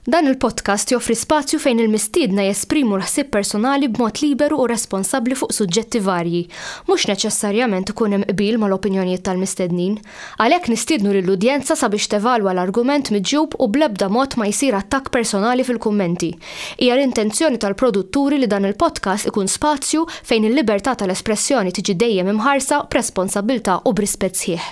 Dan il-podcast joffri spazju fejn il-mistiedna jesprimu l-ħsieb personali b'mod liberu u responsabbli fuq suġġetti varji. Mhux neċessarjament ikun hemm qbil mal-opinjonijiet tal-mistednin. Għalhekk nistiednu lill-udjenza sabiex tevalwa l-argument miġjub u bl-ebda mod ma jsir attakk personali fil-kummenti. Hija l-intenzjoni tal-produtturi li dan il-podcast ikun spazju fejn il-libertà tal-espressjoni tiġi dejjem imħarsa b'responsabbiltà u b'rispett sħiħ.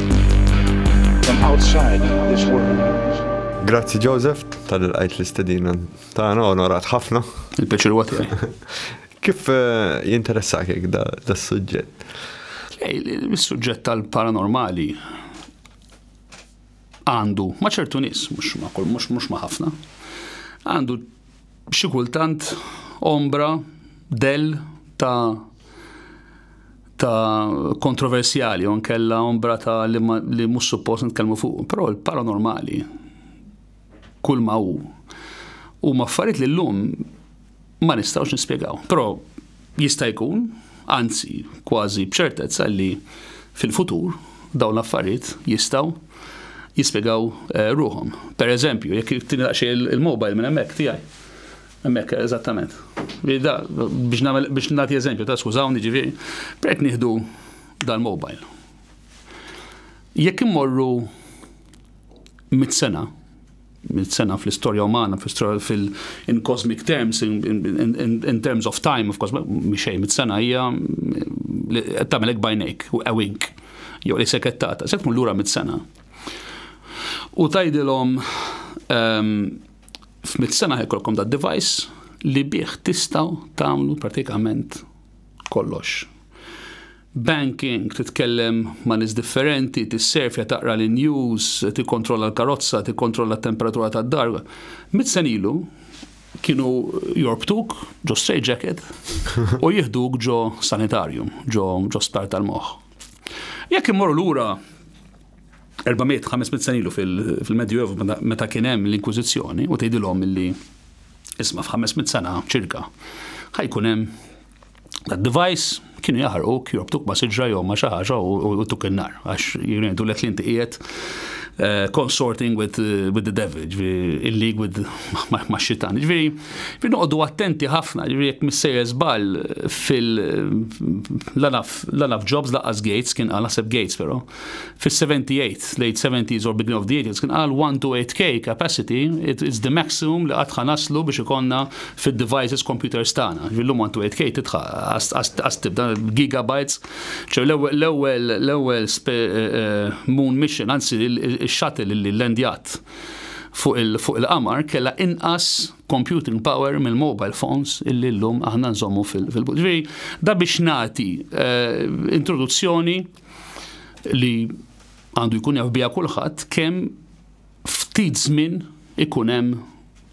Grazzi Joseph tal qajt l-istedina tagħna onorat ħafna. Il-peċir huwa tiegħi. Kif eh, jinteressak jekk da s-suġġett? Is-suġġett tal-paranormali għandu ma ċertu nies, mhux ma kull mhux mhux ma ħafna, għandu Xi kultant ombra, dell ta' ta' kontroversjali, on kella ombra ta' li, li mhux suppost nitkellmu fuq, però l-paranormali kull ma hu u maffariet li llum ma nistgħux nispjegaw. Però Jista' jkun, anzi kważi b'ċertezza li fil-futur dawn l-affarijiet jistgħu jispjegaw ruħhom. Per eżempju, jekk tini daqsxejn il-mobile minn hemmhekk tiegħi. Hemmhekk eżattament. Biex nagħmel biex nagħti eżempju ta' skużawni ġifieri, prajt nieħdu dal-mobile. Jekk immorru mit sena, sena fl-istorja umana, in cosmic terms, in terms of time, of course, miexej, mit sena hija tamelek bajnejk, u ewink, jew li sekettata, se tkun lura mit sena. U tajdilhom ehm, f'mit sena ħekolkom da device li bih tistaw tagħmlu pratikament kollox. Banking, titkellem ma' nies differenti, tisserfja, taqra l-news, tikkontrolla l-karozza, tikkontrolla t-temperatura tad-dar. Mitt sena ilu kienu jorbtuk ġo straight jacket u jieħduk ġo sanitarium, ġo sptar tal-moħħ. Jekk immorru lura 400, 500 sena ilu fil-Medjuevu meta kien hemm l-Inkwiżizzjoni u tgħidilhom li isma' f'500 sena ċirka ħajkun hemm tad-device kienu jaħarquk, jorbtuk ma' siġra jew ma' xi ħaġa u tuk in-nar għax jgħidu lek li inti qiegħed eh, consorting with, eh, with the devil, in league with ma' xitan. Ġifieri, fi noqogħdu attenti ħafna, ġifieri jekk missejjer żball fil lanaf jobs laqqas gates kien għal naħseb gates però. Fis-78, late seventies or beginning of the eighties, kien qal 1 to 8K capacity it's the maximum li qatt ħa naslu biex ikollna fid-devices computers tagħna. Jiġifieri llum 1 to 8K tidħa għas tibda gigabytes. Ġifieri l-ewwel l-ewwel moon mission, anzi x-shuttle li llandjat fuq il-qamar kellha inqas computing power mill-mobile phones illi llum aħna nżommu fil-but. Ġifieri da biex nagħti introduzzjoni li għandu jkun jaf biha kulħadd kemm ftit żmien ikun hemm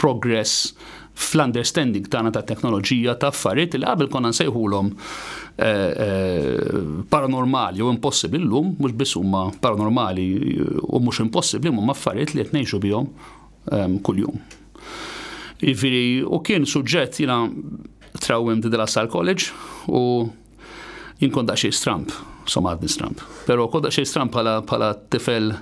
progress fl-understanding tagħna ta' teknoloġija ta' affarijiet li qabel konna nsejħulhom eh, eh, paranormali u impossibbli llum, mhux biss huma paranormali u mhux impossibbli huma affarijiet li qed ngħixu bihom ehm, kuljum. Iviri, u kien suġġett jina trawim di dela sal-college u Jien kont daqsxejn stramp, somma għadni stramp, però kont daqsxejn stramp bħala tifel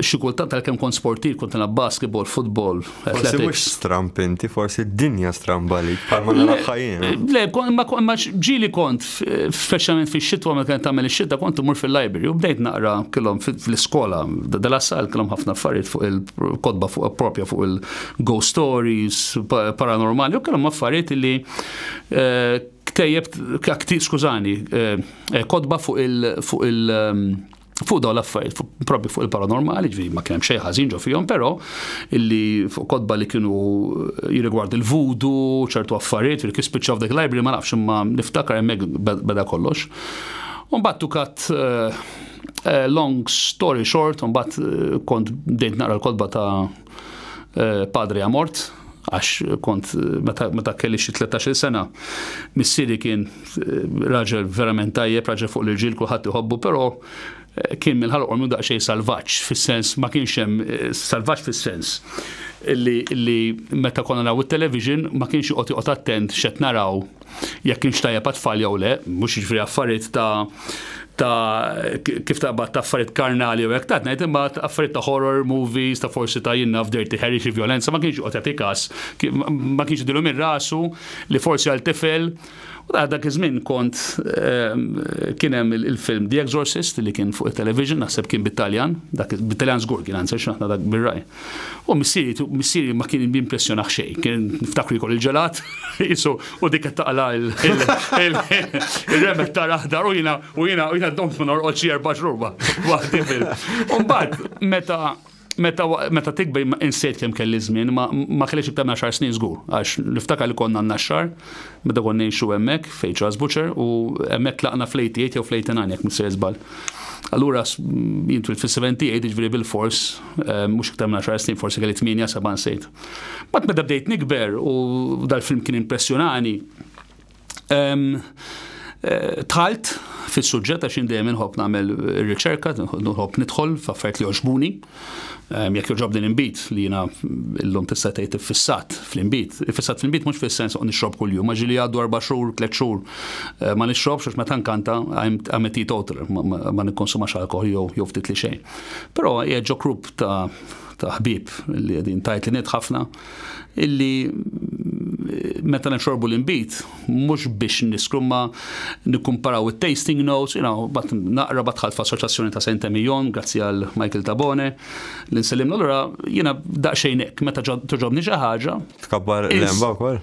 xi kultant tal-kem kont sportiv, kont nilgħab basketball, football, athletics. Forsi mhux stramp inti, forsi d-dinja stramba li bħalma naraħħa jien. Eh? Le, ma ġili kont, speċjalment fix-xitwa ma kien tagħmel ix-xitwa kont imur fil-library u bdejt naqra kellhom fl-iskola, dela sal kellhom ħafna affarijiet fuq il-kodba fuq propja fuq il-ghost stories, paranormali, u kellhom affarijiet li eh, Ktejjeb, kti, skużani, eh, kotba fuq il, fuq il, ehm, fuq daw l-affarijiet, fu- propju fuq il-paranormali, ġviri ma kienem xejn ħażin ġo fihom, però illi fuq kotba li kienu eh, jirrigward il-vudu, ċertu affarijiet, ġviri kif spiċċaw f'dak library ma nafx imma niftakar hemmhekk be- beda kollox. Umbat tu kat eh, eh, long story short, umbat eh, kont bdejt naqra l-kotba ta' eh, padri amort, għax kont meta kelli xi 13 sena, missieri kien eh, raġel verament tajjeb, raġel fuq l-irġiel kulħadd iħobbu, però eh, kien mill-ħalq u daqsxejn salvaġġ fis-sens ma kienx hemm salvaġġ fis-sens li meta konna naw it-television ma kienx joqgħod joqgħod attent x'qed naraw jekk kienx tajjeb għat-tfal jew le, mhux jiġifieri affarijiet ta' ta' kif taqbad ta' affarijiet karnali u hekk ta' ngħid imma affarijiet ta' horror movies ta' forsi ta' jinnaf dirty Harry xi vjolenza ma kienx joqgħod jagħti każ ma kienx idilhom ir-rasu li forsi għal tifel u ta' dak iż-żmien kont ehm, kien hemm il-film The Exorcist li kien fuq it-television naħseb kien bit-Taljan, bit-Taljan żgur kien anzi x'aħna dak bir-raj. U missieri, missieri ma kien jimpressjonah xejn, kien niftakru jkun il-ġelat, jisu, u dik qed taqla il-remek ta' raħdar u jina, u jina, u jina domt ma norqod xi erba' xruba. Waħdi fil. Umbagħad, meta meta meta tikber insejt kemm kelli żmien, ma kellix iktar minn xar snin żgur, għax niftakar li konna naxxar, meta kon ngħixu hemmhekk fejn Charles Butcher u hemmhekk tlaqna fl-88 jew fl-89 jekk missier żball. Allura jintwil fis-78 jiġri bil-fors Ehm, mux iktar minn 10 snin, forsi kelli 8, 7 nsejt. Bat meta bdejt nikber u dal-film kien impressjonani, ehm, eh, tħalt fil-sujġet għax dejjem inħobb nagħmel riċerka, nħobb nidħol f'affarijiet li joġbuni. Ehm, jekk joġob din imbit li jiena llum tista' tgħid iffissat fl-imbit. Iffissat fl-imbit mhux fis-sens u nixrob kuljum, ma ġili għaddu erba' xhur, tliet xhur. Ma nixrobx għax meta nkanta għamet total, ma nikkonsumax alkohol jew ftit li xejn. Però hija ġo grupp ta' ta' ħbib li qegħdin tajt li nid ħafna illi meta nixorbu l-inbit, mhux biex niskru ma nikkumparaw it-tasting notes, you know, bat naqra bat ħalfa assoċjazzjoni ta' Saint Emilion, grazzi għal Michael Tabone, li nsellimna l-ura, jiena daqsxejn hekk, meta toġobni xi ħaġa. Tkabbar l-emba wkoll?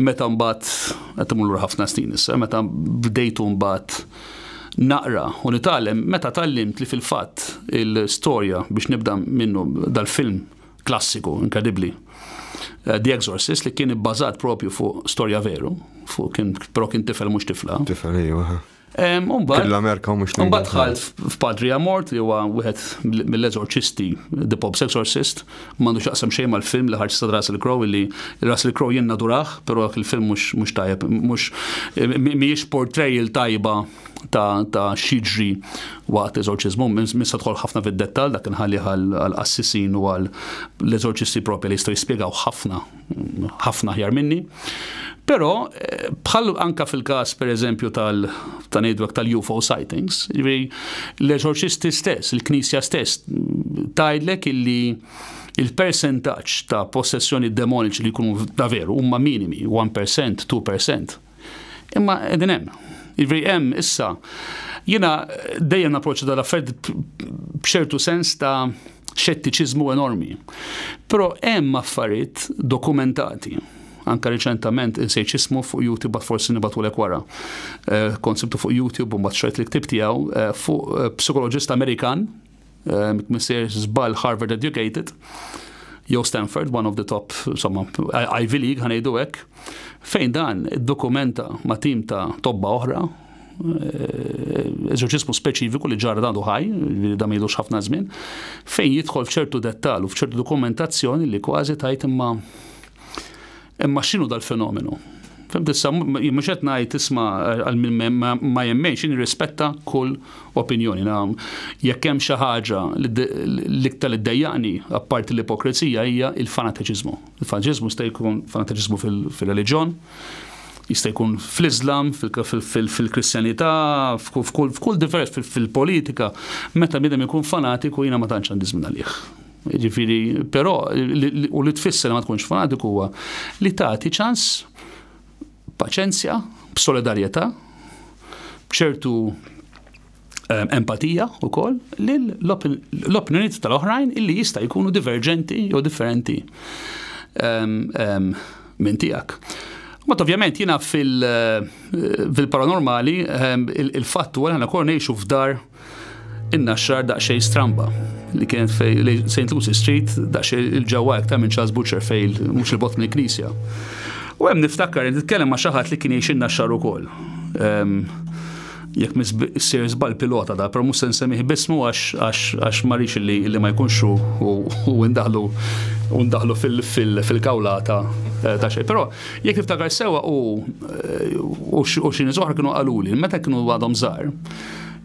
Meta mbagħad, qed imur lura ħafna snin issa, meta bdejtu mbagħad naqra u nitgħallem, meta tgħallimt li fil-fatt il-storja biex nibda minnu dal-film klassiku, inkredibbli, eh, The Exorcist, li kien ibbażat propju fuq storja veru, fuq kien, però kien tifel mhux tifla. Tifel, ejwa. Fil-Amerika mhux li. Mbagħad dħalt f'Padri Amort li huwa wieħed mill-eżorċisti, The Pope's Exorcist, m'għandu x'jaqsam xejn mal-film li ħarġ ta' Russell Crowe li Russell Crowe jien nadurah, però dak il-film mhux tajjeb, mhux mhijiex portrayal tajba ta' xiġri waqt eżorċiżmu, minn se tħol ħafna fid-dettall dak inħalli għal qassisin u għal l-eżorċisti propja li jistgħu jispjegaw ħafna ħafna aħjar minni. Però eh, bħal anka fil-każ pereżempju tal ta' ngħidlek tal-UFO sightings, l-eżorċisti stess, il-Knisja stess tgħidlek illi il-percentaġġ ta' possessjoni demoniċi li jkunu ta' veru huma minimi, 1%, 2%. Imma qegħdin hemm. Jiġifieri hemm issa jiena dejjem naproċċa dal-affarijiet b'ċertu sens ta' xettiċiżmu enormi. Però hemm affarijiet dokumentati anka riċentament insejt ismu fuq YouTube bat forsi nibatulek wara. Eh, konsibtu fuq YouTube u mbagħad xrajt li ktib tiegħu eh, fuq eh, psikoloġist Amerikan Missier żball Harvard educated jew Stanford, one of the top, insomma, Ivy League, ħanejdu hekk, fejn dan dokumenta ma' tim ta' tobba oħra, eh, eżorċismu speċifiku li ġarra għadu ħaj, li da mejdux ħafna żmien, fejn jidħol f'ċertu dettal u f'ċertu dokumentazzjoni li kważi tajt imma Imma x'inhu dal-fenomenu? Fem tissa, mux qed ngħid isma' għal minn ma jemmen xin rispetta kull opinjoni. Jekk hemm xi ħaġa l-iktar li ddejjaqni apparti l-ipokrezija hija il-fanateċiżmu. Il-fanateċiżmu jista' jkun fanateċiżmu fil-reliġjon, jista' jkun fl-Islam, fil-Kristjanità, f'kull divers fil-politika, meta bidem ikun fanatiku jiena ma tantx għandi żmien għalih. Jiġifieri, però, u li tfisser ma tkunx fanatiku huwa li tagħti ċans paċenzja, b'solidarjetà, b'ċertu Ehm, empatija u koll l-opinjoniet tal-oħrajn illi jista' jkunu diverġenti jew differenti ehm, ehm, minn tiegħek. Mat ovvjament jiena fil-paranormali il-fatt u għalħana kol nejxu f'dar In-naxxar daqsxejn stramba li kienet fej St. Lucy Street daqsxejn il-ġewwa iktar minn Charles Butcher fej mhux il-bot mill-knisja. U hemm niftakar li nitkellem ma' xi ħadd li kien jgħix in-naxxar ukoll. Ehm, jekk mis sir żball pilota da, però mhux se nsemmih bismu għax ma rix li ma jkunx u ndaħlu u ndaħlu fil-kawlata eh, ta' xejn. Però jekk niftakar sewa u eh, xi nies oħra kienu qaluli meta kienu għadhom żgħar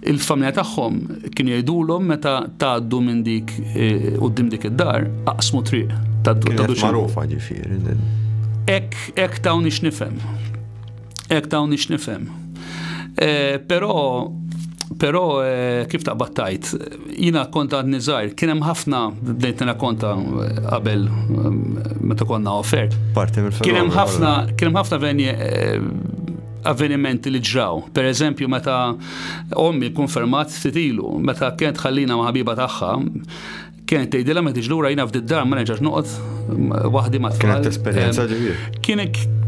Il-familja tagħhom kienu jgħidulhom meta tgħaddu minn dik eh, quddiem dik id-dar, aqsmu triq ta' duċi. Magħrufa ġifieri. Ek, ek ta' unix nifem. Ek ta' unix nifem. Eh, pero, pero eh, kif ta' battajt, jina konta għad nizajr, kienem ħafna, bdejt nina konta eh, qabel meta konna offert. Parti mill Kienem ħafna, kienem ħafna venje avvenimenti li ġraw. Per eżempju, meta ommi konfermat ftit ilu, meta kienet ħallina ma' ħabiba tagħha, kienet tgħidilha ma tiġ lura jiena f'did dar ma nerġax noqgħod waħdi ma' tfal. Kienet esperjenza ġifier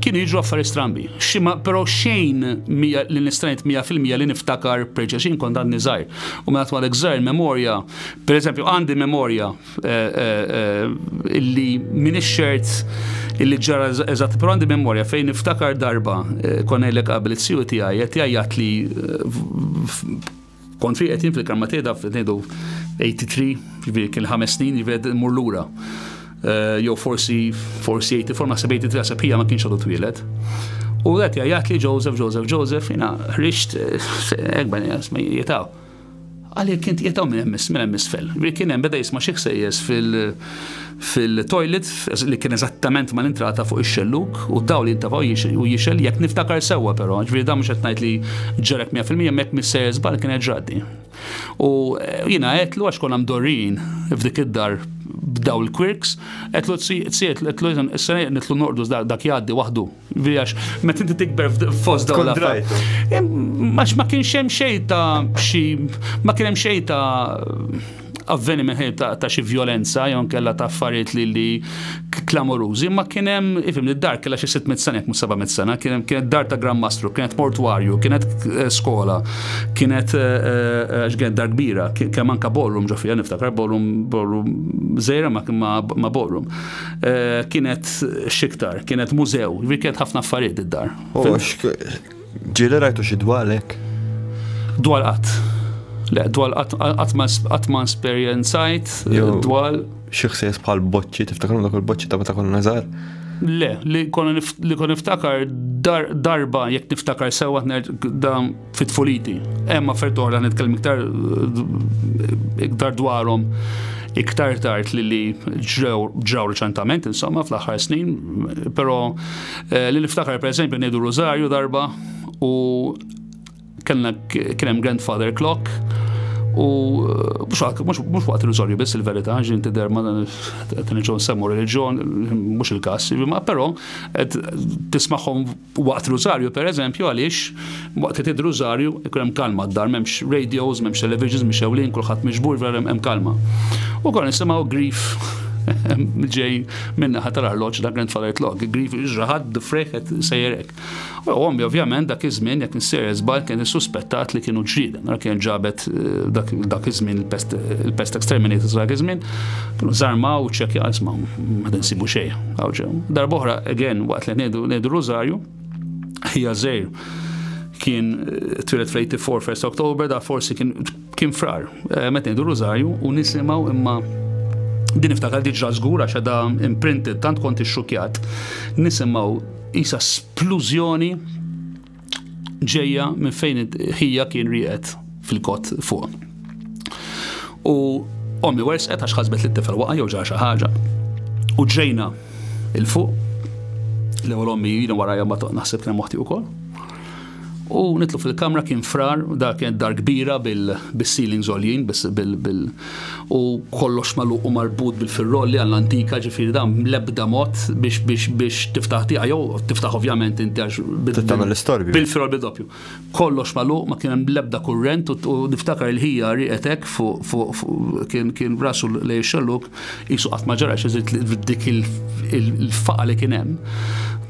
kien jiġu affari strambi. Xima, pero xejn li nistrajt 100% li niftakar preċa xin kont għadni zaħir. U minn għatwalek zaħir memorja, per eżempju, għandi memorja illi min ix-xert illi ġara eżatt, però għandi memorja fejn niftakar darba eh, konellek qabel it-siju tiegħi qed jgħajjat li eh, kont fi qed jien fil-karma tiegħi daf ngħidu 83, ġifieri kien ħames snin jived mur lura. Eh, jew forsi forsi 84 naħseb 83 naħseb hija ma kienx għadu twielet. U għet jgħajjat li Joseph, Joseph, Joseph, jina ħriġt ekben jgħas ma jitaw. Għalhekk kien qiegħed hawn minn hemm minn hemm isfel. Kien hemm beda jisma' xi ħsejjes fil-toilet li kien eżattament ma l-intrata fuq ix-xellug u d-dawl jintafa' u jixel jekk niftakar sewwa però, ġifieri dan mhux qed ngħid li ġarek mija fil-mija imma jekk mhix sejjer żball kienet ġradni. U jiena għedtlu għax konna mdorrijin f'dik id-dar b'daw il-quirks, għedtlu tsiet, għedtlu is-sena nitlu norqdu dak jgħaddi waħdu. Għax, ma tinti tikber fost dawn l-affarijiet. Għax ma kienx hemm xejn ta' xi, ma kien hemm xejn ta' avveniment ħajb ta' xi violenza, jew kella ta' affarijiet li li klamorużi, ma kien hemm, ifim, id-dar kella xi 600 sena, mhux 700 sena, kien hemm kienet dar ta' Gran Mastru, kienet mortwarju, kienet eh, skola, kienet eh, eh, x'kienet dar kbira, kemm anka ballroom ġo fija niftakar, ballroom ballroom żejra ma' ballroom. Eh, kienet xiktar, kienet mużew, kienet ħafna affarijiet id-dar. Ġili rajtu xi dwalek? Dwal qatt. Le, dwal qatt ma esperjenzajt, eh, dwal. Xi ħsies bħal boċċi, tiftakar dak il-boċċi ta' meta konna nazar? Le, li kon niftakar darba jekk niftakar sewa da fit-tfuliti. Hemm affert oħra nitkellem iktar iktar dwarhom iktar tard li li ġraw reċentament, insomma, fl-aħħar snin, però eh, li niftakar per eżempju ngħidu Rosario darba u kellna kien hemm grandfather clock u eh, mhux waqt il-Rosario biss il-verità, ġin tidher ma dan il-ġon semmu reliġjon, mhux il-każ, però tismagħhom Waqt Rużarju, per eżempju, għaliex waqt li tgħid Rużarju ikun hemm kalma d-dar, m'hemmx radios, m'hemmx televisions mixewlin, kulħadd miġbur, vera hemm kalma. U konna nisimgħu grif ġej min-naħa tal-arloġġ da grandfather clock, grif ġraħad d-frejħ qed sejjer hekk. U ommi ovvjament dak iż-żmien jekk nsier żball kien issuspettat li kienu ġrieda. Nara kienet ġabet dak iż-żmien il-pest exterminatus dak iż-żmien, kienu żarmaw u ċekja għal smaw, ma tinsibu xejn. Għawġew. Darboħra, again, waqt li ngħidu ngħidu Rużarju, hija żejr kien twilet fl-84 1 Oktober, da forsi kien kien frar. Eh, meta ngħidu Rużarju u nisimgħu imma din iftakar diġra żgur għax da imprinted tant kont ixxukjat. Nisimgħu isa splużjoni ġejja minn fejn ħija kien rieqed fil-kot fuq. U ommi wersqet għax ħasbet li t-tifel waqa' jew ġar xi ħaġa. U ġejna il-fuq l ewwel ommi jina warajja ma naħseb kien moħti wkoll. U nitlu fil-kamra kien frar, dak kien dar kbira bil-ceiling zoljin, bil-ceiling u kollox magħluq u marbut bil-firrolli għall-antika ġifieri dan bl-ebda mod biex biex biex tiftaħ tiegħek jew tiftaħ ovvjament inti għax tagħmel l-istorbju. Bil-firrolli doppju. Kollox magħluq ma kien hemm l-ebda kurrent u niftakar il-ħija rieqet hekk fuq fuq kien kien rasu lejn ix-xellug qisu qatt ma ġara xi dik il-faqa li kien hemm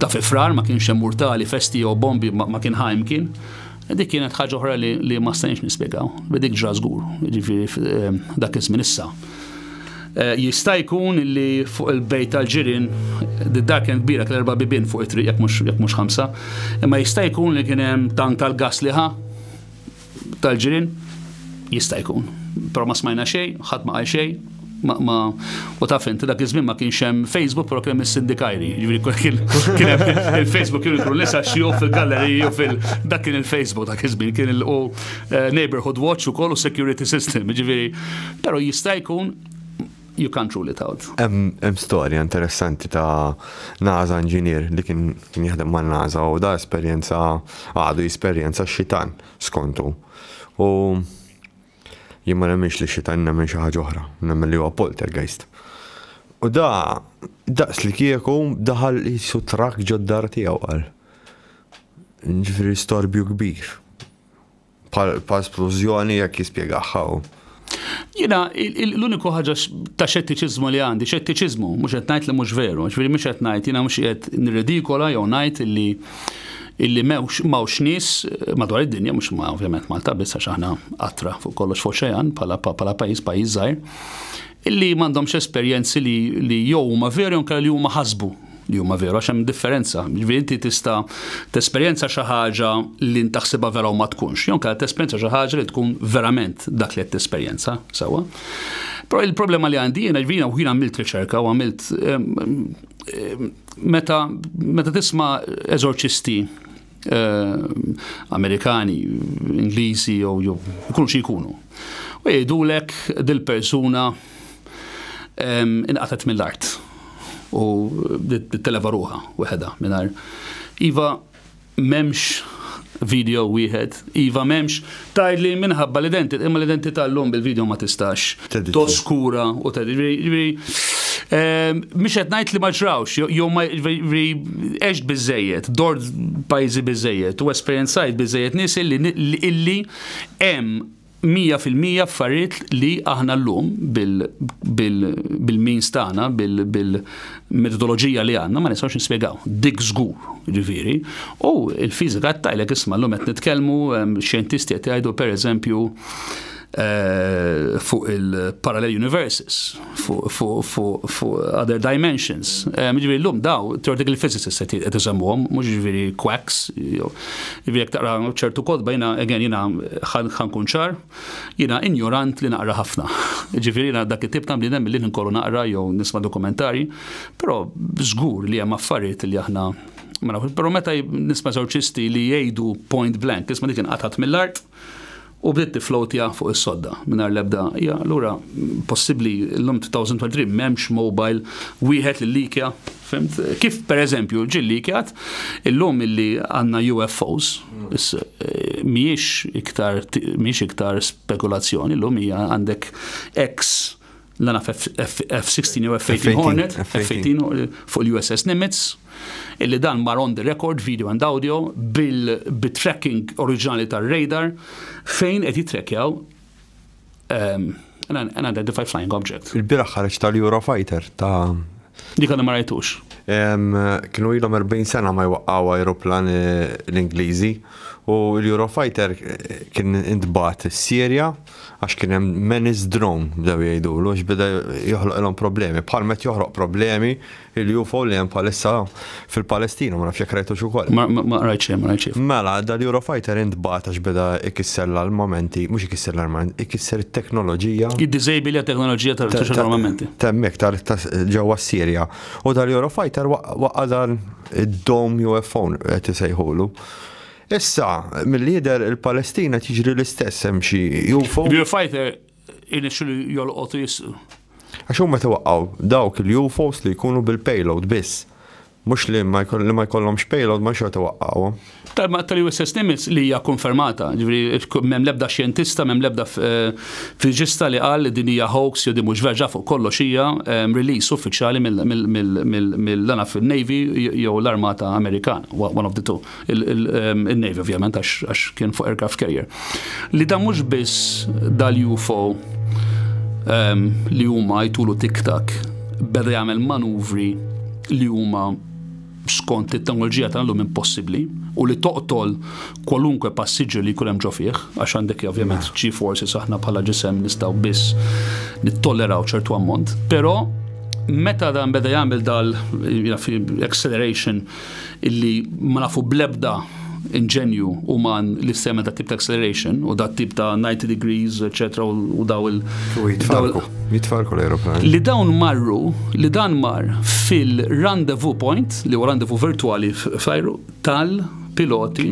ta' fi frar ma kienx hemm urtali festi jew bombi ma kien ħajm kien Dik kienet ħaġa oħra li, li ma stajniex nispjegaw. Dik ġra żgur, ġifieri eh, dak iż-żmien issa. Eh, jista' jkun li fuq il-bejt tal-ġirien d-dar kien kbira kien erba' bibien fuq it-triq jekk mhux jekk mhux ħamsa, imma jista' jkun li kien hemm tank tal-gas liħa tal-ġirien jista' jkun. Però ma smajna xejn, ħadd ma qal xejn, Ma, ma, u taf inti dak iż-żmien ma kienx hemm Facebook, però kien hemm is-sindikajri. Jiġri kien hemm il-Facebook kien ikun nisa xi fil-galleriji u fil dak kien il-Facebook dak iż-żmien kien il eh, Neighborhood Watch ukoll u Security System, jiġifieri. Però jista' jkun you can't rule it out. Hemm storja interessanti ta' NASA inġinier li kien kien jaħdem ma' NASA u da esperjenza għadu esperjenza xitan skontu. U Jien ma nemminx li x-xitan nemmen xi ħaġa oħra, nemmen li huwa poltergeist. U da daqs li kieku daħal qisu trakk ġod-dar tiegħu qal. Ġifieri storbju kbir. Pa splużjoni jekk jispjegaħħa hu. Jiena l-uniku ħaġa ta' xettiċiżmu li għandi, xettiċiżmu, mhux qed ngħid li mhux veru, ġifieri mhux qed ngħid, jiena mhux qed nirridikola jew ngħid li illi mewx mawx nies eh, madwar id-dinja, mhux ma ovvjament Malta biss għax aħna qatra fuq kollox fuq xejn bħala bħala pajjiż pajjiż żgħir, illi m'għandhomx esperjenzi li, li jew huma veri anke li huma ħasbu li huma veru għax hemm differenza. Ġifieri inti tista' tesperjenza xi ħaġa li ntaħsibha vera u ma tkunx, jew kellha tesperjenza xi ħaġa li tkun verament dak li qed tesperjenza sewwa. Però il-problema li għandi jiena ġvina u jiena għamilt riċerka u għamilt Meta, meta tisma eżorċisti eh, Amerikani, Ingliżi jew jew ikunu xi jkunu. U jgħidulek dil-persuna ehm, inqatet mill-art u televa ruħa weħeda mingħajr. Iva, M'hemmx video wieħed. Iva m'hemmx. Tgħid li minħabba l-identità, imma l-identità llum bil-video ma tistax toskura u tgħid. Jiġifieri, ehm, mhux qed ngħid li ma ġrawx, jew ma jiġifieri għext biżejjed, dort pajjiżi biżejjed u esperjenzajt biżejjed nies illi illi hemm mija fil-mija affarijiet li aħna llum bil-means tagħna, bil-metodoloġija li għandna ma nistgħux nispjegaw. Dik żgur, ġifieri. U l-fiżika qed tajlek isma' llum qed nitkellmu xjentisti qed jgħidu pereżempju eh, fuq il-parallel universes. fuq other dimensions. Ġviri l-lum daw, theoretical physicists se qed isemmuhom, mhux ġviri quacks, ġviri jekk taqra ċertu kodba jiena again jiena ħankun ċar, jiena injorant li naqra ħafna. Ġviri jiena dak it-tip ta' bniedem li nkollu naqra jew nisma' dokumentarji, però żgur li hemm affarijiet li aħna ma nafux. Però meta nisma' eżorċisti li jgħidu point blank, isma' dik inqatgħet mill-art, u bdiet tifflowtja fuq is-sodda mingħajr l-ebda hija lura possibbli llum 2023 m'hemmx mobile wieħed li likja fimt kif pereżempju ġie likjat illum illi għandna UFOs eh, mhijiex iktar mhijiex iktar spekulazzjoni llum hija għandek ex l-għana F-16 jew F-18 Hornet, F-18 fuq l-USS Nimitz, illi dan mar on the record, video and audio, bil-tracking oriġinali tar-radar, fejn qed jitrekjaw ehm, unidentified flying object. Il-biraħ ħareġ tal-Eurofighter ta' Dik għadha ma rajtux. Kienu ilhom 40 sena ma jwaqqaw aeroplan eh, l-Ingliżi u l-Eurofighter eh, kien intbat s-Sirja għax kien hemm menace drone bdew jgħidulu għax beda joħloqilhom problemi. Bħal met joħroq problemi il-UFO li hemm bħalissa fil-Palestina, ma nafx jekk rajtux ukoll. Ma rajt xejn, ma rajt xejn. Mela, dal-Eurofighter intbagħat għax beda ikisser l-armamenti, mhux ikisser l-armamenti, ikisser it-teknoloġija. Id-diżejbili teknoloġija tal-armamenti. Temmek tal ġewwa s-Sirja. U dal-Eurofighter waqqa' dan id-dom UFO qed isejħulu. Issa, milli jidher il-Palestina qed jiġri l-istess hemm xi UFO. Real fighter irnexxilu jolqot riżq. Għax huma meta waqgħu dawk il-UFOs li jkunu bil-payload biss. Mhux li ma jkollhomx payload ma xorta waqqgħuhom. Tal-ma tal-USS Nimitz li hija konfermata, ġifieri m'hemm l-ebda xjentista, m'hemm l-ebda fiġista li qal li din hija hoax jew din mhux vera, ġa fuq kollox hija release uffiċjali mill-Navy jew l-Armata Amerikana, one of the two. il-Navy ovvjament għax kien fuq aircraft carrier. Li da mhux biss dal-UFO ehm, li huma jtulu tiktak beda jagħmel manuvri li huma skont it-teknoloġija ta' l-lum impossibbli u li toqtol kwalunkwe passiġġer li jkun hemm ġo fih, għax għandek ovvjament ċi forsi saħna bħala ġisem nistgħu biss nittolleraw ċertu ammont, però meta dan beda jagħmel dal acceleration illi ma nafu bl-ebda inġenju uman li semmet dat tip ta' acceleration u dat tip ta' 90 degrees, etc. u daw il- U jitfarku, jitfarku l-aeroplan. Li dawn marru, li dan mar fil-rendezvous point, li huwa rendezvous virtuali fl-ajru, tal-piloti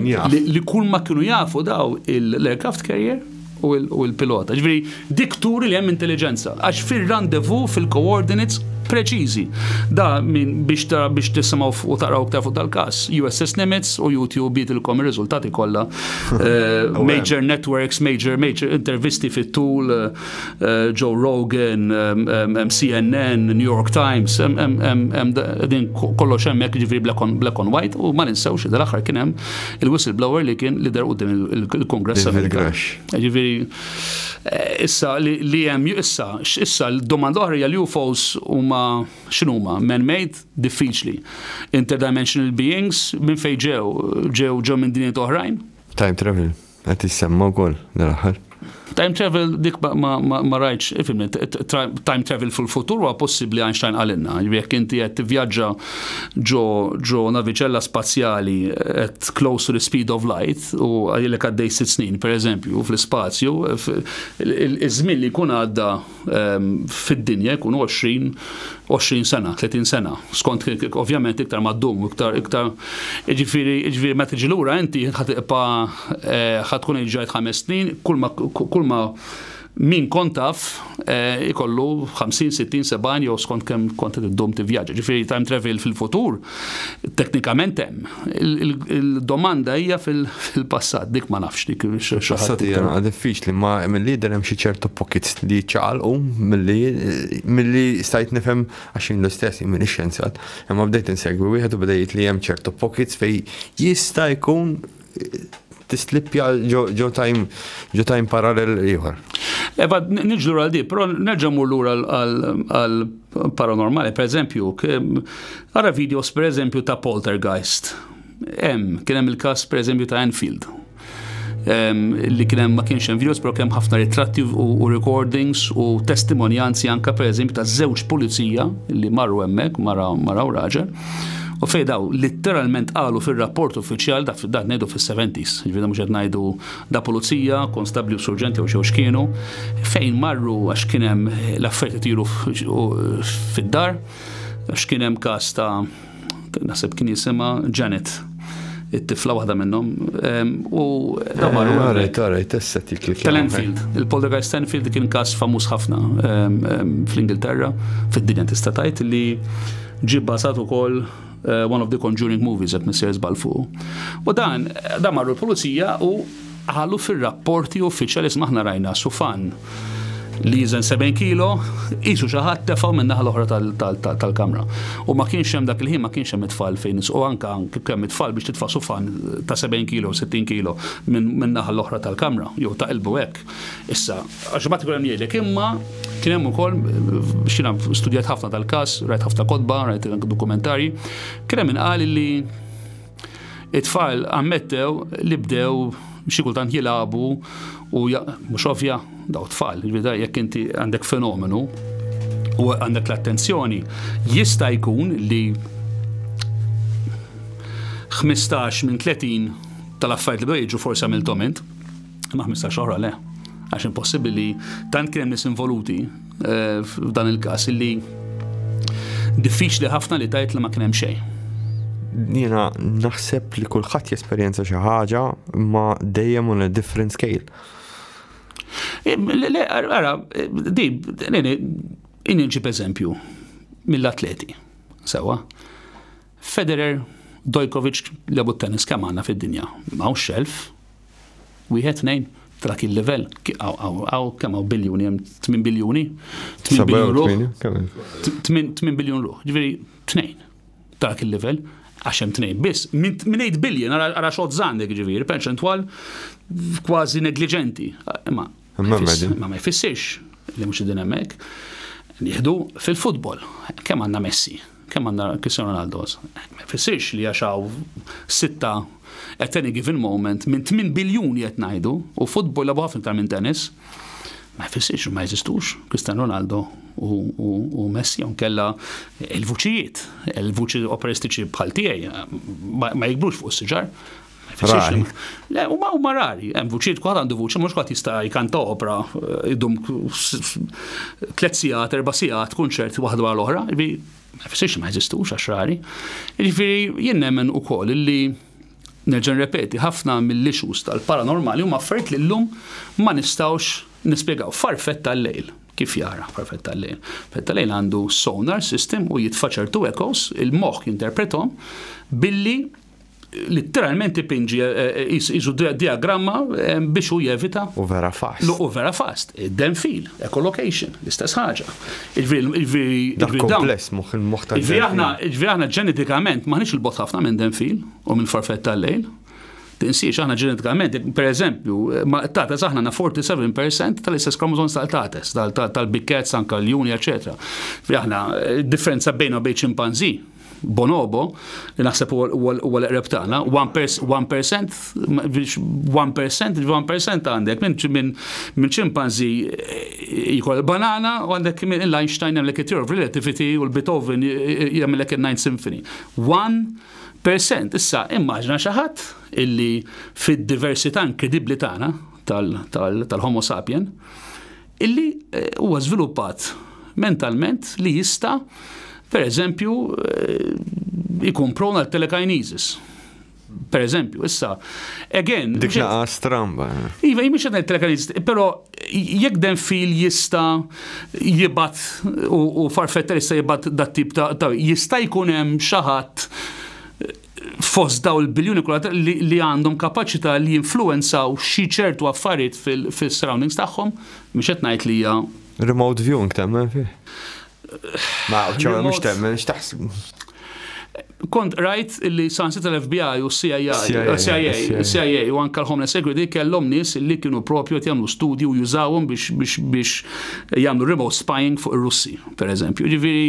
li kull ma kienu jafu daw l-aircraft carrier, u l-pilota. Ġifieri dik turi li hemm intelliġenza għax fir-rendezvous fil-coordinates preċiżi. Da min biex tara biex tisimgħu u taqraw iktar fuq dal-każ. USS Nimitz u YouTube jidilkom ir-riżultati kollha. Eh, major networks, major major intervisti fit-tul, eh, Joe Rogan, eh, CNN, New York Times, din kollox hemmhekk ġifieri black on white u ma ninsewx id-aħħar kien hemm il-whistleblower li kien li der qudiem il-Kongress Amerikan. Ġifieri eh, issa li hemm issa issa l-domanda oħra hija li UFOs huma x'inhuma man-made diffiċli. Interdimensional beings minn fejn ġew ġew ġew minn dinjiet oħrajn. Time travel. Qed tissemma wkoll dal-aħħar. Time travel dik ma rajtx, ifhimni, time travel fil-futur huwa possibbli Einstein qalilna. Jiġri jekk inti qed tivvjaġġa ġo naviċella spazjali at close to the speed of light u għajlek għaddej sitt snin, pereżempju, fl-ispazju, iż-żmien li jkun għadda fid-dinja jkunu 20, 20 sena, 30 sena. Skont ovvjament iktar ma ddum, iktar iktar ġifieri ġifieri meta tiġi lura inti ħad iqpa eh, ħad tkun ġajt ħames snin, kull ma kull ma min kont taf eh, ikollu 50, 60, 70 jew skont kemm kont id-dum tivvjaġġa. Ġifieri time travel fil-futur Teknikament hemm. Il-domanda hija fil-passat, dik ma nafx dik Passat hija naqa' diffiċli, ma milli jidher hemm xi ċertu pockets li ċaqalqu milli milli stajt nifhem għax jien l-istess jien m'iniex xjenzjat, imma bdejt insegwi wieħed u beda jgħid li hemm ċertu pockets fejn jista' jkun tistlippja ġo time parallel ieħor. Eba, nġlu għal di, pero nerġa mur lura għal paranormali, per eżempju, għara videos per eżempju ta' poltergeist. Em, kien hemm il-kas per eżempju ta' Enfield li kien hemm ma kienx hemm videos, però kemm ħafna ritratti u recordings u testimonjanzi anka pereżempju ta' żewġ pulizija li marru hemmhekk mara mara u raġel. U fej daw litteralment qalu fir-rapport uffiċjal dak dak ngħidu fis-70s, jiġifieri mhux qed ngħidu da pulizija, konstabbli u surġenti jew xew x'kienu, fejn marru għax kien hemm l-affarijiet itiru fid-dar, għax kien hemm każ ta' naħseb kien jisimha Janet. it-tifla waħda minnhom. U. Damar, u għarajt, għarajt, estetik li kien. Enfield. Il-Poltergeist Enfield kien kas famuż ħafna fl-Ingilterra, fid-dinja tista' tgħid li ġib basat ukoll eh, one of the conjuring movies at Mr. Zbalfu. U dan, dan marru l-pulizija u qalu fir-rapporti uffiċjali iżma aħna rajna sufan li jiżen 70 kilo, qisu xi ħadd tefgħu min-naħa l-oħra tal-kamra. U ma kienx hemm dak il-ħin ma kienx hemm it-tfal fejn u anke kemm it-tfal biex titfa' sufan ta' 70 kilo, 60 kilo minn naħa l-oħra tal-kamra, jew ta' qilbu hekk. Issa, għax ma tkun hemm jgħidlek imma kien hemm ukoll xina studjat ħafna tal-każ, rajt ħafna kotba, rajt dokumentarji, kien hemm inqal li It-tfal ammettew li bdew xi kultant jilagħbu u mhux ovvja daw tfal, ġvida jekk inti għandek fenomenu u għandek l-attenzjoni, jista' jkun li 15 minn 30 tal-affarijiet li bdew jiġu forsi għamiltom int. Ma' 15 oħra le. Għax impossibbli li tant kien hemm nies involuti eh, f'dan il-każ li diffiċli ħafna li tajt li ma kien hemm xejn jena naħseb li kullħat jesperjenza xi ħaġa ma dejjem on a different scale. Le, ara, di, inni nġib eżempju mill-atleti, sewa. Federer, Dojkovic, lebu t-tennis kemm għandna fid-dinja? Hawn xelf? Wieħed, tnejn? Ta' dak il-livell? Hawn kemm hawn biljuni hemm? 8 biljuni? 8 biljun ruħ? 8 biljun ruħ. Ġifieri tnejn ta' dak il-livell għax hemm tnejn biss. Minn 8 biljon ara xogħol żgħandek ġifieri, perċentwal kważi negliġenti. Ma ma jfissirx li mhux din hemmhekk. Nieħdu fil-futbol, kemm għandna Messi? Kemm għandna Cristiano Ronaldos? Ma jfissirx li għax hawn sitta at any given moment minn 8 biljuni qed ngħidu u futbol labu ħafna iktar minn tennis. Ma jfissirx ma jeżistux Cristiano Ronaldo u Messi hawn kella il-vuċijiet, il-vuċi operistiċi bħal tiegħi ma jikbrux fuq is-siġar. Rari. Le, u ma u marari, hemm vuċiet kwaħt għandu vuċi, mhux kwaħt jista' jkanta opra eh, idum tliet sigħat, erba' sigħat, kunċert waħda għal oħra, jiġifieri, ma jfissirx ma jeżistux għax rari. Jiġifieri jien nemmen ukoll li nerġa' repeti ħafna mill-issues tal-paranormali huma affarijiet li llum ma nistgħux nispjegaw farfett tal-lejl kif jara farfett tal-lejl. Farfett tal-lejl għandu sonar system u jitfa ċertu echoes, il-moħħ jinterpretom billi Litteralment ipinġi qisu diagramma biex hu jevita. U vera fast. U vera fast. Id-den fil, echolocation, l-istess ħaġa. Il-veri. Dak kompless moħħ il-moħħ ta' Ġviri aħna, ġviri aħna ġenetikament maħniex il-bot ħafna minn den fil u minn farfet tal-lejl. Tinsiex aħna ġenetikament, per eżempju, ma tates aħna na 47% tal-istess kromozom tal-tates, tal-bikkets, anka l-juni, eccetera. Aħna, differenza bejna bejn ċimpanzi, Bonobo, li naħseb huwa l-eqreb tagħna, 1%, 1%, 1% għandek minn minn ċimpanzi eh, jkoll banana u għandek minn l-Einstein hemm l-Theory of Relativity u l-Beethoven jagħmlek il-Ninth Symphony. 1% issa immaġna xi ħadd illi fid-diversità inkredibbli tagħna tal-Homo sapien illi huwa żviluppat mentalment li jista' pereżempju jkun prona telekinesis. Per eżempju, issa, again. Dik naqa stramba. Iva, jimiex għadna telekanist, pero jekk den fil jista jibat u farfetta jista jibat dat tip ta' jista jkun hemm xaħat fost dawn il-biljuni kollha li għandhom kapaċità li jinfluwenzaw xi ċertu affarijiet fis-surroundings tagħhom, mhux qed ngħid li hija Remote viewing temmen fih? Ma, ċara mhux temmen, x'taħsbu? kont rajt li sansit l-FBI u CIA, CIA, CIA u anka l-Homeland Security kellhom nies li kienu propju qed jagħmlu studju u jużawhom biex biex biex jagħmlu remote spying fuq ir-Russi, pereżempju. Ġifieri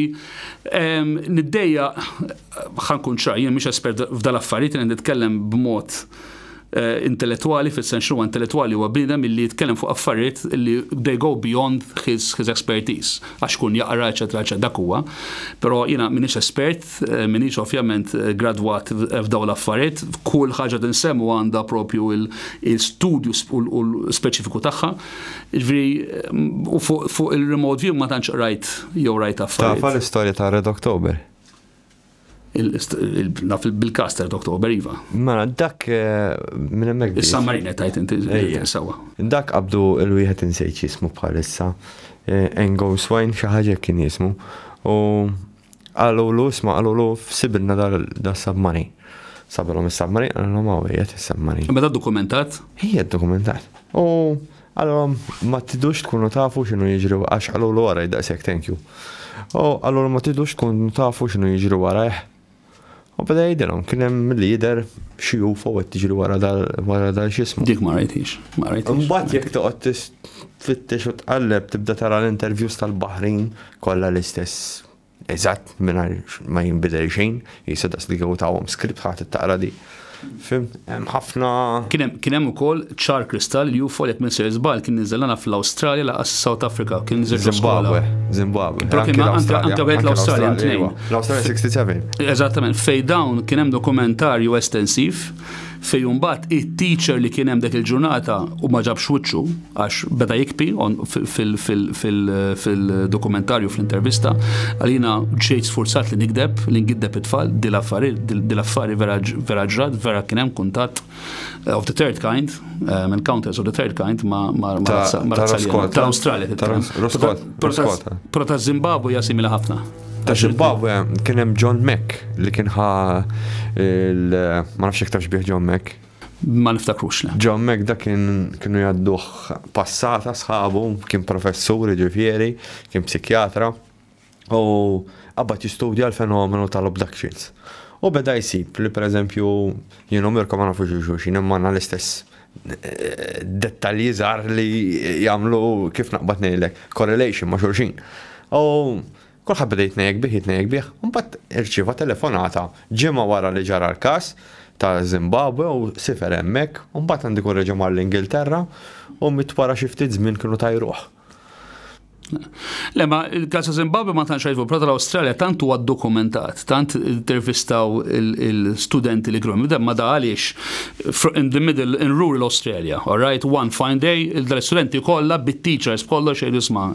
niddejja Ħa nkun ċar, jien mhix espert f'dal-affarijiet, jiena nitkellem b'mod intellettwali fis-sens x'inhuwa intellettwali huwa bniedem illi jitkellem fuq affarijiet illi they go beyond his his expertise għax ikun jaqra eċċetera eċċetera dak huwa. Però jiena m'iniex espert, m'iniex ovvjament gradwat f'dawn l-affarijiet, kull ħaġa li nsemmu għandha proprju l-studju u l-speċifiku tagħha. Jiġifieri u fuq il-remote view ma tantx qrajt jew rajt affarijiet. Taf għall-istorja ta' Red October? Naf bil-kas ta' Dr. Ober Iva. Mela, dak eh, minn hemmhekk. Is-San Marina tajt inti sawa. Dak qabdu l-wieħed insejt jismu bħalissa. Eh, Engo Swine xi ħaġa kien jismu. U qalulu isma' qalulu f'sibilna da submarine. Sabilhom is-submarine qalilhom hawn qiegħed is-submarine. Meta dokumentat? Hija dokumentat. U Qalilhom, Ma tridux tkunu tafu x'inhu jiġri wa-, għax qalulu wara hi daqshekk, thank you. U qalulhom ma tridux tkunu tafu x'inhu jiġri wara hi. U beda jgħidilhom, kien hemm milli jidher xi UFO qed tiġri wara dal, wara dal x'ismu. Dik ma rajthiex, ma rajthiex. Imbagħad jekk toqgħod tis, tfittex u tqalleb tibda tara l-interviews tal-Baħrin kollha l-istess. Eżatt, mingħajr ma jinbidel xejn, jisa daqs li kieku tawhom skript ħadd ittaqra di. Fim, hemm ħafna. Kien hemm ukoll ċar kristall li UFO jekk minn se żball kien niżel fl-Awstralja laqas South Africa kien niżel Zimbabwe. Zimbabwe. Però kien anke wieħed l-Awstralja tnejn. L-Awstralja 67. Eżattament, fejn dawn kien hemm dokumentarju estensiv Fejn mbagħad it-teacher li kien hemm dik il-ġurnata u ma ġabx wiċċu għax beda jikpi fil-dokumentarju fl-intervista, għalina ġejt sfurzat li nikdeb, li ngiddeb it-tfal, dil-affari vera ġrat, vera kien hemm kuntatt eh, of the third kind, eh, encounters of the third kind ma' razzalja. Ta' Australia. Pro ta' Zimbabwe jasimila ħafna. Ta' Zimbabwe kien hemm John Mack li kien ħa il ma nafx iktar xbieħ John Mack. Ma niftakrux le. John Mack da kien kienu jadduh passata sħabu, kien professur ġifieri, kien psikjatra u qabad jistudja l-fenomenu tal-abductions. U beda jisib li per eżempju jienu mirkom ma nafux xulxin imma l-istess dettalji żgħar li jagħmlu kif naqbad ngħidlek correlation ma' xulxin. U kulħadd beda jitnejjek bih, jitnejjek bih, mbagħad irċieva telefonata ġimgħa wara li ġara l-każ ta' Zimbabwe u sifer hemmhekk, u mbagħad għandi kun reġa' mar l-Ingilterra u mit wara xi ftit żmien kienu tajruh. Le, ma il-kas ta' Zimbabwe ma tantx għajfu, prata l-Australia tant huwa dokumentat, tant intervistaw il-studenti li għrom. Ma da għaliex, in the middle, in rural Australia, all right, one fine day, il-studenti kollha bit-teachers kollha xejn isma'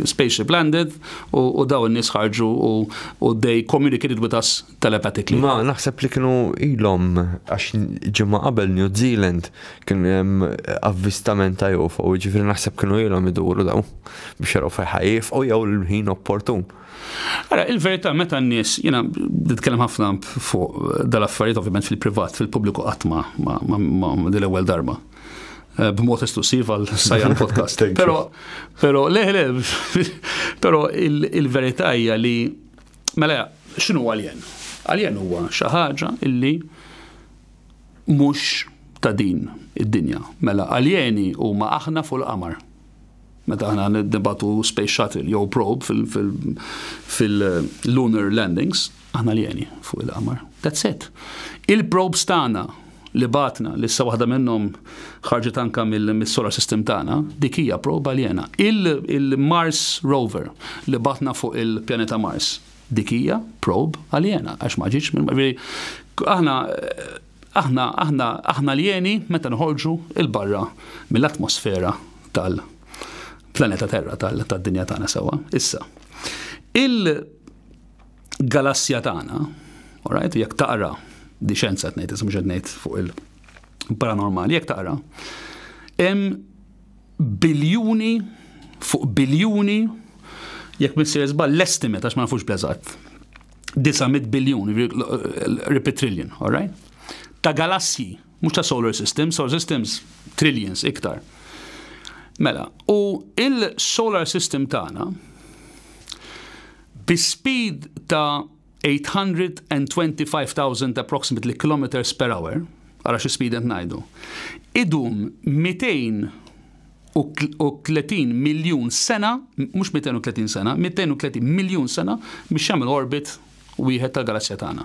spaceship landed u daw in-nies ħarġu u they communicated with us telepathically. Ma naħseb li kienu ilhom għax ġimgħa qabel New Zealand kien hemm avvistament ta' UFO, ġifieri naħseb kienu ilhom iduru daw biex jaraw fejħajf u jew l-ħin opportun. Ara, il-verità meta n-nies, jiena nitkellem ħafna fuq dal-affarijiet ovvjament fil-privat, fil-pubbliku qatt ma dil-ewwel darba eh, b'mod esklusiv għal sajjan podcast. Pero, pero, le, le, pero il-verità hija li Mela, x'inhu għaljen? Għaljen huwa xi ħaġa illi mhux ta' din id-dinja. Mela, għaljeni huma aħna fuq il-qamar. Meta aħna nibatu space shuttle jew probe fil-lunar landings, aħna aljeni fuq il-qamar. That's it. Il-probes tagħna li bagħatna, li issa waħda minnhom ħarġet anke mis-solar system tagħna, dik hija proba aljena. Il-Mars rover li bagħatna fuq il-pjaneta Mars, dik hija prob aljena għax ma ġietx minn aħna aħna aħna aħna aljeni meta nħorġu il barra mill-atmosfera tal- planeta Terra tad-dinja tagħna sewwa. Issa, il galassja tagħna, alright, jekk taqra di xenza tnejt, ismu xed ngħid fuq il-paranormali, jekk taqra, hemm biljuni fuq biljuni jekk missier żball l-estimate għax ma nafux bl-eżatt. 900 biljun, repeat trillion, alright? Ta' galassji Mhux ta' solar systems, solar systems trillions iktar. Mela, u il-solar system tagħna bi speed ta' 825,000 approximately kilometers per hour, għara xi speed qed ngħidu, idum 230 miljun sena, mhux 230 sena, 230 miljun sena biex jagħmel orbit wieħed tal-galassja tagħna.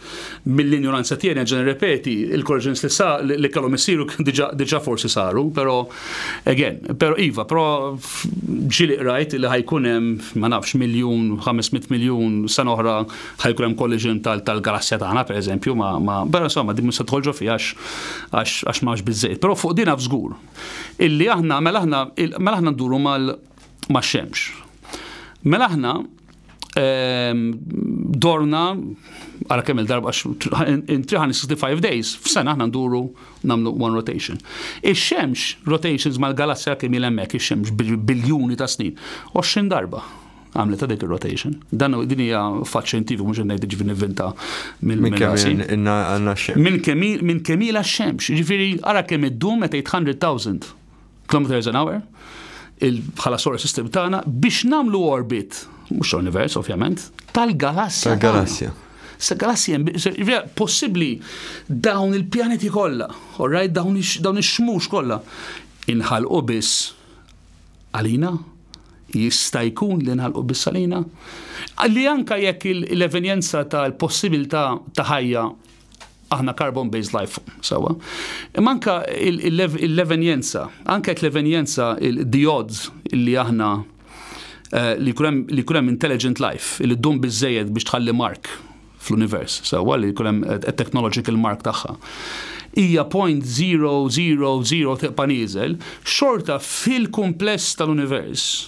Mill-injoranza tiegħi nerġa' nirrepeti, il-corrections li sa li kellhom isiru diġà forsi saru, però again, però iva, però ġieli qrajt li ħajkun hemm ma nafx miljun, 500 miljun sena oħra ħajkun hemm collision tal-galassja tagħna pereżempju ma' però insomma din mhux se tidħol ġo fiha għax m'hawnx biżżejjed. Però fuq din naf żgur illi aħna mela aħna mela aħna nduru max-xemx. Mela aħna dorna għala kemm il-darba in 365 days f'sena aħna nduru namlu one rotation. Ix-xemx rotations mal-galassja kemm il hemmhekk ix-xemx biljuni ta' snin. 20 darba għamlet ta' dik il-rotation. Dan din hija fatt xjentifiku mhux ngħid ġifi nivvinta mill-minn kemm minn kemm x-xemx. Ġifieri ara kemm iddum meta 800,000 Kilometri għal zanawar, bħala solar system tagħna biex namlu orbit, mhux univers ovvjament, tal-galassja. Tal-galassja. Se galassja possibbli dawn il-pjaneti kollha, orrajt dawn ix-xmux kollha inħalqu biss għalina jista' jkun li nħalqu biss għalina. Li anka jekk l-evenjenza tal-possibilità ta' ħajja aħna carbon-based life form, sawa. Imma anka l-evenjenza, anka jekk l-evenjenza, the odds li aħna eh, li kulem intelligent life, li ddum bizzejed biex tħalli mark fl-univers, sawa li kulem eh, technological mark tagħha hija 0.000 tiqpa' nieżel, xorta fil-kumpless tal-univers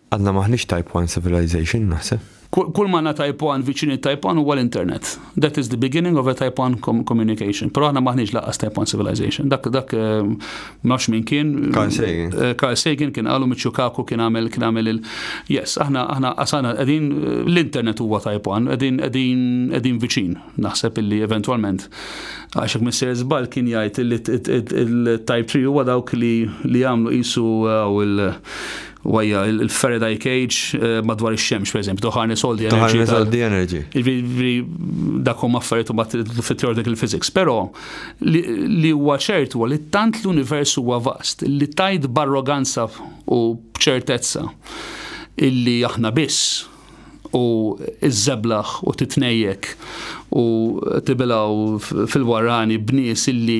Għadna m'aħniex Type One civilization, naħseb. Kull m'għandna Type One viċin it-Type One huwa l-internet. That is the beginning of a Type One communication. Però aħna m'aħniex lanqas Type One civilization. Dak dak ehm, nafx min kien. Carl Sagan. Eh, Carl Sagan kien qalu Miċċu Kaku kien għamel kien għamel il Yes, aħna aħna qasana qegħdin eh, l-internet huwa Type One, qegħdin qegħdin qegħdin viċin. Naħseb illi eventwalment għax hekk Mr. Żbal kien jgħid il-Type 3 huwa dawk li jagħmlu qisu eh, il Wajja, il-Faraday cage eh, madwar ix-xemx, per eżempju, ħarnes all the energy. Ħarnes all the energy. Ġifieri, dakom affarijiet u bat fit-theoretical physics. Però li huwa ċert huwa li tant l-univers huwa vast li tajt barroganza u b'ċertezza illi aħna biss u iż-żeblaħ u titnejjek u tibilaw fil-warani b'nies illi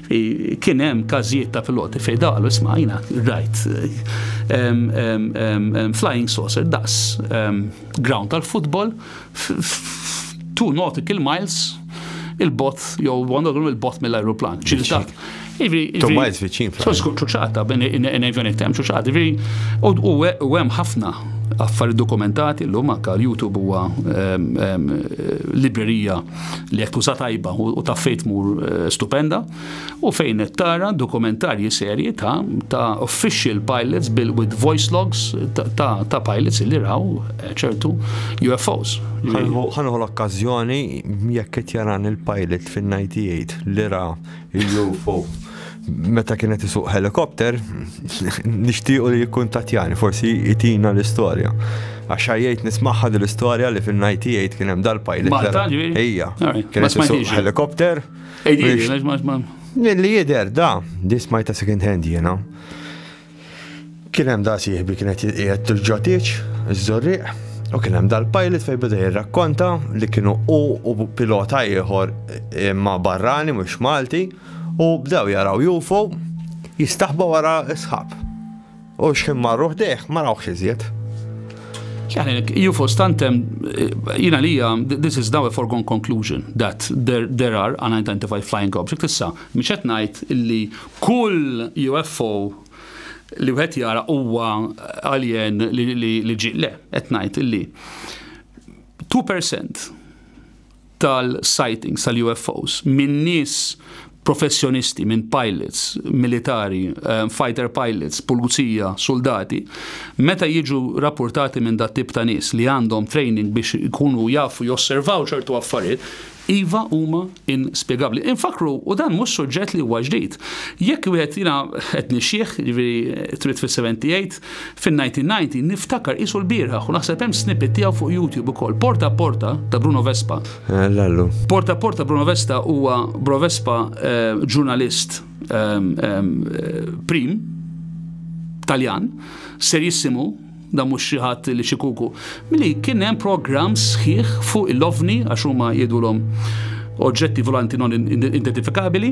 Kien hemm każijiet ta' piloti fejn dalu isma' jiena rajt flying saucer daqs ground tal-futbol two nautical miles il-bot jew għandhom il-bot mill-ajruplan. Two miles viċin. So skut ċuċata bejn in-nejvenet hemm ċuċata. U hemm ħafna affarijiet dokumentati llum anke l-YouTube huwa librerija li jekk tuża tajba u ta' fejt mur eh, stupenda u fejn qed tara dokumentarji serji ta' ta' official pilots bil with voice logs ta' ta' pilots li raw eh, ċertu UFOs. Ħanħu l-okkażjoni jekk qed jaran il-pilot fin-98 li ra Il-UFO. Meta kienet isuq helikopter, nixtiequ li jikkuntatjani, forsi jitina l-istorja. Għax jgħid nismaħħa l-istorja li fin-98 kien hemm dal-pilot. Malta ġivi? Ija. Kien isuq helikopter. Ejdi, Li jider, da, di smajta second hand jena. Kien hemm da sieħbi kien qed qiegħed il-ġotieġ, iż-żorrieq, u kien hemm dal-pilot fejn beda jirrakkonta li kienu u u pilota ieħor imma barrani mhux Malti u bdew jaraw UFO jistaħba wara s-sħab. U xħin marru ħdejh ma rawx iżjed. Janek, UFO stantem, jina li this is now a foregone conclusion that there, there are unidentified flying objects. Issa, miex qed ngħid illi Kull UFO li wieħed jara huwa alien li ġie. Le, qed ngħid illi two percent tal-sightings tal-UFOs minn nies professjonisti, minn pilots, militari, eh, fighter pilots, pulizija, suldati, meta jiġu rapportati minn dat tip ta' nies li għandhom training biex ikunu jafu josservaw ċertu affarijiet, Iva, huma inspjegabbli. Infakkru, u dan mhux suġġett li huwa ġdid. Jekk wieħed jiena qed nixxieh, jiġifieri trid fis-78, fin-1990 niftakar qisu l-bieraħ u naħseb hemm snippet tiegħu fuq YouTube ukoll, Porta Porta ta' Bruno Vespa. Lallu. Porta Porta Bruno Vesta huwa Bro Vespa eh, ġurnalist eh, eh, prim Taljan, serjissimu, dan mhux xi ħadd li xi kuku, li kien hemm programm sħiħ fuq il-ovni għax huma jgħidulhom oġġetti volanti non identifikabili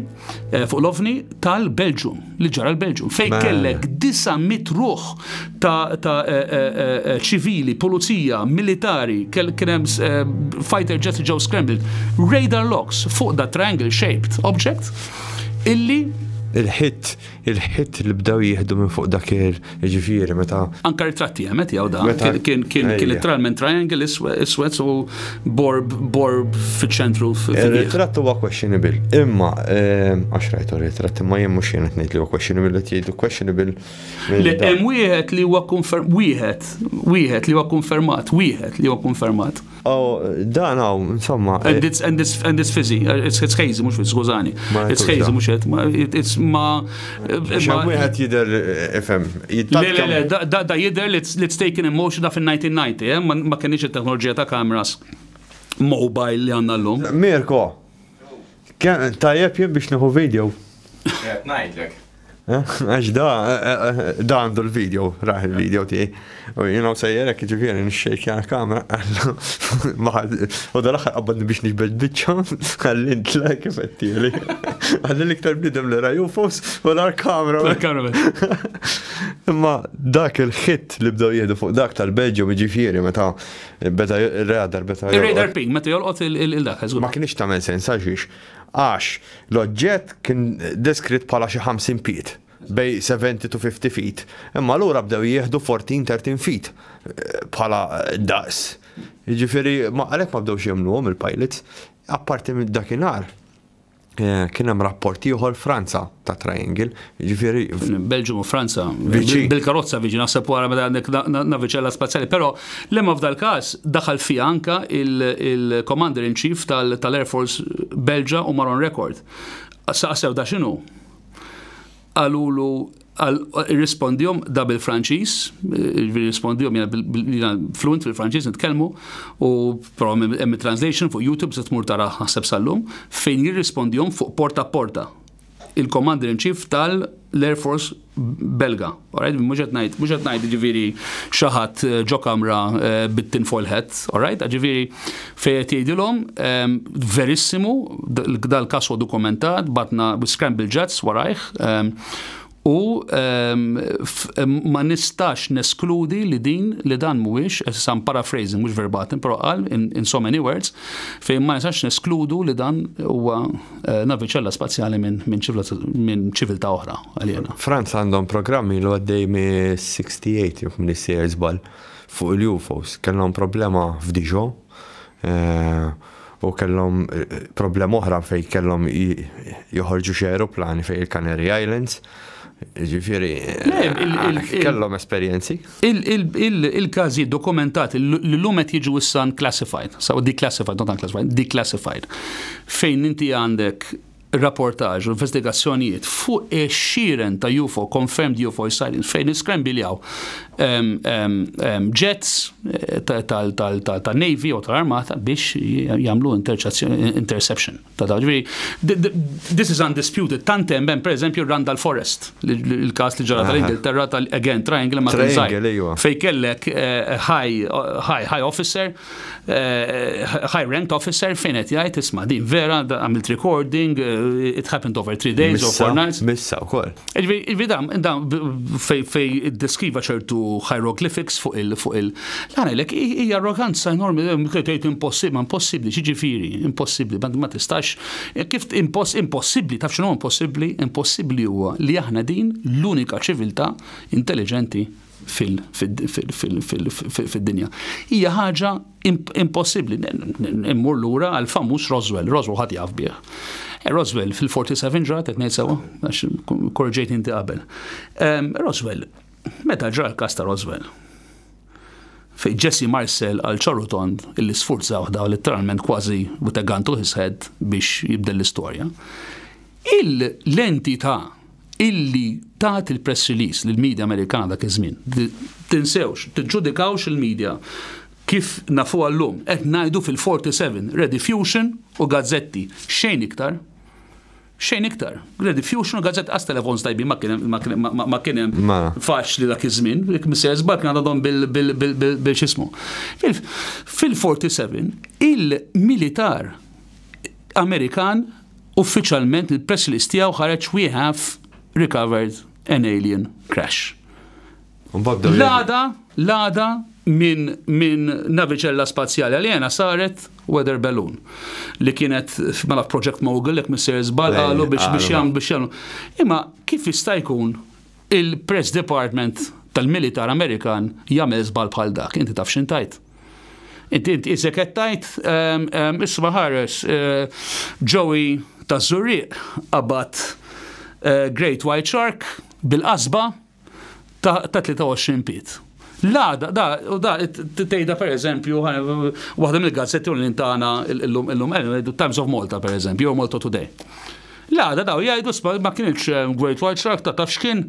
eh, fuq l-ovni tal-Belġum, li ġara l-Belġum, fejn kellek 900 ruħ ta' eh, eh, ċivili, pulizija, militari, kien hemm fighter jets ġew scrambled, radar locks fuq da triangle shaped object illi il-hit Il-ħitt li bdew jieħdu minn fuq dak il, jiġifieri meta. Anke ritratti hemm qed jgħu dan. Meta- Kien kien kien Ejja. literalment triangle iswe- iswed u borb borb fiċ-ċentru f- fih. Ir-ritratt huwa questionable, imma ehm, għax rajt ir-ritratt imma jien mhux jien qed ngħid li huwa questionable qed jgħidu questionable. minn Le dan. hemm wieħed li huwa konferm wieħed, wieħed li huwa konfermat, wieħed li huwa konfermat. Oh, dan għaw, insomma. And it's, and it's, and it's fizzy, it's, it's hazy, mux fizzy, skużani. It's hazy, mux et, it's ma. Xan wieħed jider, ifem, Le, le, le, da, da jider li it's taken in motion da fin-1990, eh? ma kienx il-teknoloġija ta' kameras mobile li għanna l-lum. Mirko, Kemm tajjeb jien biex nieħu video. Qed ngħidlek. Għax da, da għandu l-video, raħ il-video ti. U jina sejjer hekk ġifieri nixxejkja l-kamera għallu. U da l-aħħar qabbadni biex nixbed biċċa għalli ntla kif qed tieli. Għalli l-iktar bidem li raju fos u l kamera. Imma dak il-ħitt li bdew jieħdu fuq dak tal-Belġju ġifieri meta Beda radar, beda. Il-radar ping, meta jolqot il-dak, Ma kienx tagħmel sens għax għax l-oġġett kien deskritt bħala xi 50 piet bej 70 to 50 feet. Imma l-ura bdew jieħdu 14-13 feet eh, bħala daqs. Ġifiri, għalek ma bdew xiemlu il-pilots, apparti minn dakinar. Eh, kien hemm rapport ieħor Franza ta' triangle, ġifieri. Belġum u Franza, bil-karozza viġi naħseb wara meta għandek naviċella spazjali, però lemma f'dal każ daħal fija anka il-Commander in Chief tal-Air Force Belġa u Maron Record. Saqsew da x'inhu? qalulu irrispondihom da bil-Franċiż, irrispondihom jiena fluent fil-Franċiż nitkellmu u hemm translation fuq YouTube se tmur tara ħaseb sal-lum fejn jirrispondihom fuq porta porta il-Commander in Chief tal-Air Force Belga. Alright, mhux qed ngħid, mhux qed ngħid ġifieri xi ħadd eh, ġo kamra eh, bit-tinfoil hat, alright? Ġifieri Fejn qed jgħidilhom, Verissimu, dal-każ huwa dokumentat, bagħatna scramble jets warajh, u ma nistax neskludi li din li dan mhuwiex, issa I'm paraphrasing mhux verbatim, però qal in so many words, fejn ma nistax neskludu li dan huwa naviċella spazjali minn ċiviltà oħra, aliena. Franza għandhom programm ilu għaddej mis-68 jekk m'iniex sejjer żball, Fuq il-UFOs, kellhom problema f'Dijon u kellhom problema oħra fejn kellhom joħorġu xi ajruplani fejn il-Canary Islands. Ġifieri kellhom esperjenzi. Il-każijiet dokumentati li llum qed jiġu issa unclassified, saw declassified, not unclassified, declassified, fejn inti għandek ir-rapportaġġ u l-investigazzjonijiet fuq ix-xiren ta' UFO, confirmed UFO sightings, fejn niskrembiljaw jets tal-Navy u tal-Armata biex jagħmlu interception ta' dawn. This is undisputed. Tant hemm hemm pereżempju Randall Forest, il-każ li ġara tal-Ingilterra tal-again triangle ma' Triangle, fejn kellek high officer high rank officer fejn qed jgħid isma' din vera għamilt recording, eh, it happened over three days or four nights. Missa wkoll. Iġvi dam, dam fej iddeskriva ċertu hieroglyphics fuq il fuq il. Għanilek hija arroganza enormi tgħid impossibbli, ma impossibbli, ġiġifieri, impossibbli, ma tistax. Kif impossibbli, taf x'inhu impossibbli? Impossibbli huwa li aħna din l-unika ċiviltà intelligenti fid-dinja. Hija ħaġa impossibbli. Immur lura għal famuż Roswell, Roswell ħadd jaf bih. Eh, Roswell fil-47 ġrat qed ngħid sewwa, għax korġejt inti qabel. Ehm, Roswell, meta ġra l-każ ta' Roswell, fej Jesse Marcel għal ċorutond illi sfurzaw daw letteralment kważi u tegantu his biex jibdel l-istorja. Il-lenti ta' illi tat il-press release lill-media Amerikana dak iż-żmien. Tinsewx, tiġġudikawx il-media kif nafuha llum. Qed ngħidu fil-47, Rediffusion u gazzetti, xejn iktar. Xejn iktar. Rediffusion u gazzetti, qas telefons tajbin ma kien hemm ma kien hemm Mela. faċli dak iż-żmien, jekk Mr. Żball kien għadhom bil bil bil bil bil x'ismu. Fil- Fil-47 il-militar Amerikan Uffiċjalment il-press release tiegħu ħareġ We have recovered an alien crash. L-għada, l-għada minn min naviċella spazjali għaljena saret weather balloon li kienet mela project mogul jekk minn sejr żball qalu biex biex jagħmlu biex jagħmlu. Imma kif jista' jkun Il-Press Department tal-Militar Amerikan jagħmel żball bħal dak. Inti taf x'int tgħid? Inti int isek qed tgħid ehm, ehm, isma' ħares eh, Joey taż-Żurrieq qabad eh, Great White Shark bil-qasba ta' 23 piet. La, da, u da, tejda per eżempju, waħda mill-gazzetti unin tagħna illum illum illum, Times of Malta per eżempju, jew Malta Today. La, da, daw, jgħidu sma ma kienx eh, Great White Shark ta' tafx kien,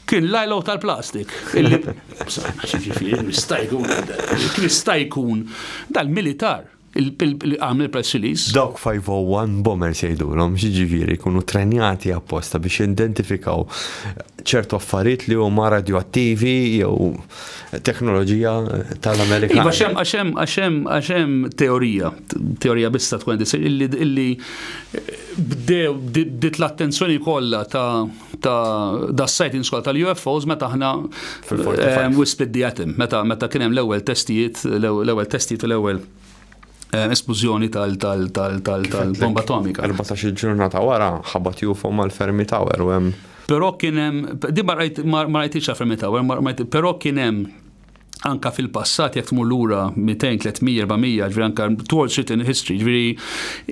kien lajlaw tal-plastik. Kien jistajkun, kien jistajkun, dal-militar. għamel press release. Dawk 501 bombers jgħidulhom, jiġifieri jkunu trenjati apposta biex jidentifikaw ċertu affarijiet li huma radioattivi jew teknoloġija tal-Amerika. Iva xem għaxem għaxem għaxem teorija, teorija bista tkun disir illi bdew bdiet l-attenzjoni kollha ta' ta' da sightings kol tal-UFOs meta aħna ehm, we split the atom, meta meta kien hemm l-ewwel testijiet, l-ewwel testijiet u l-ewwel ehm, esplużjoni tal-bomba atomika. 14 il-ġurnata wara ħabat UFO mal-fermi tower u hemm. Però kien hemm, di ma rajtix fermi tower, però kien hemm anka fil-passat jekk tmur lura 200, 300, 400, ġviri anka towards written history, ġviri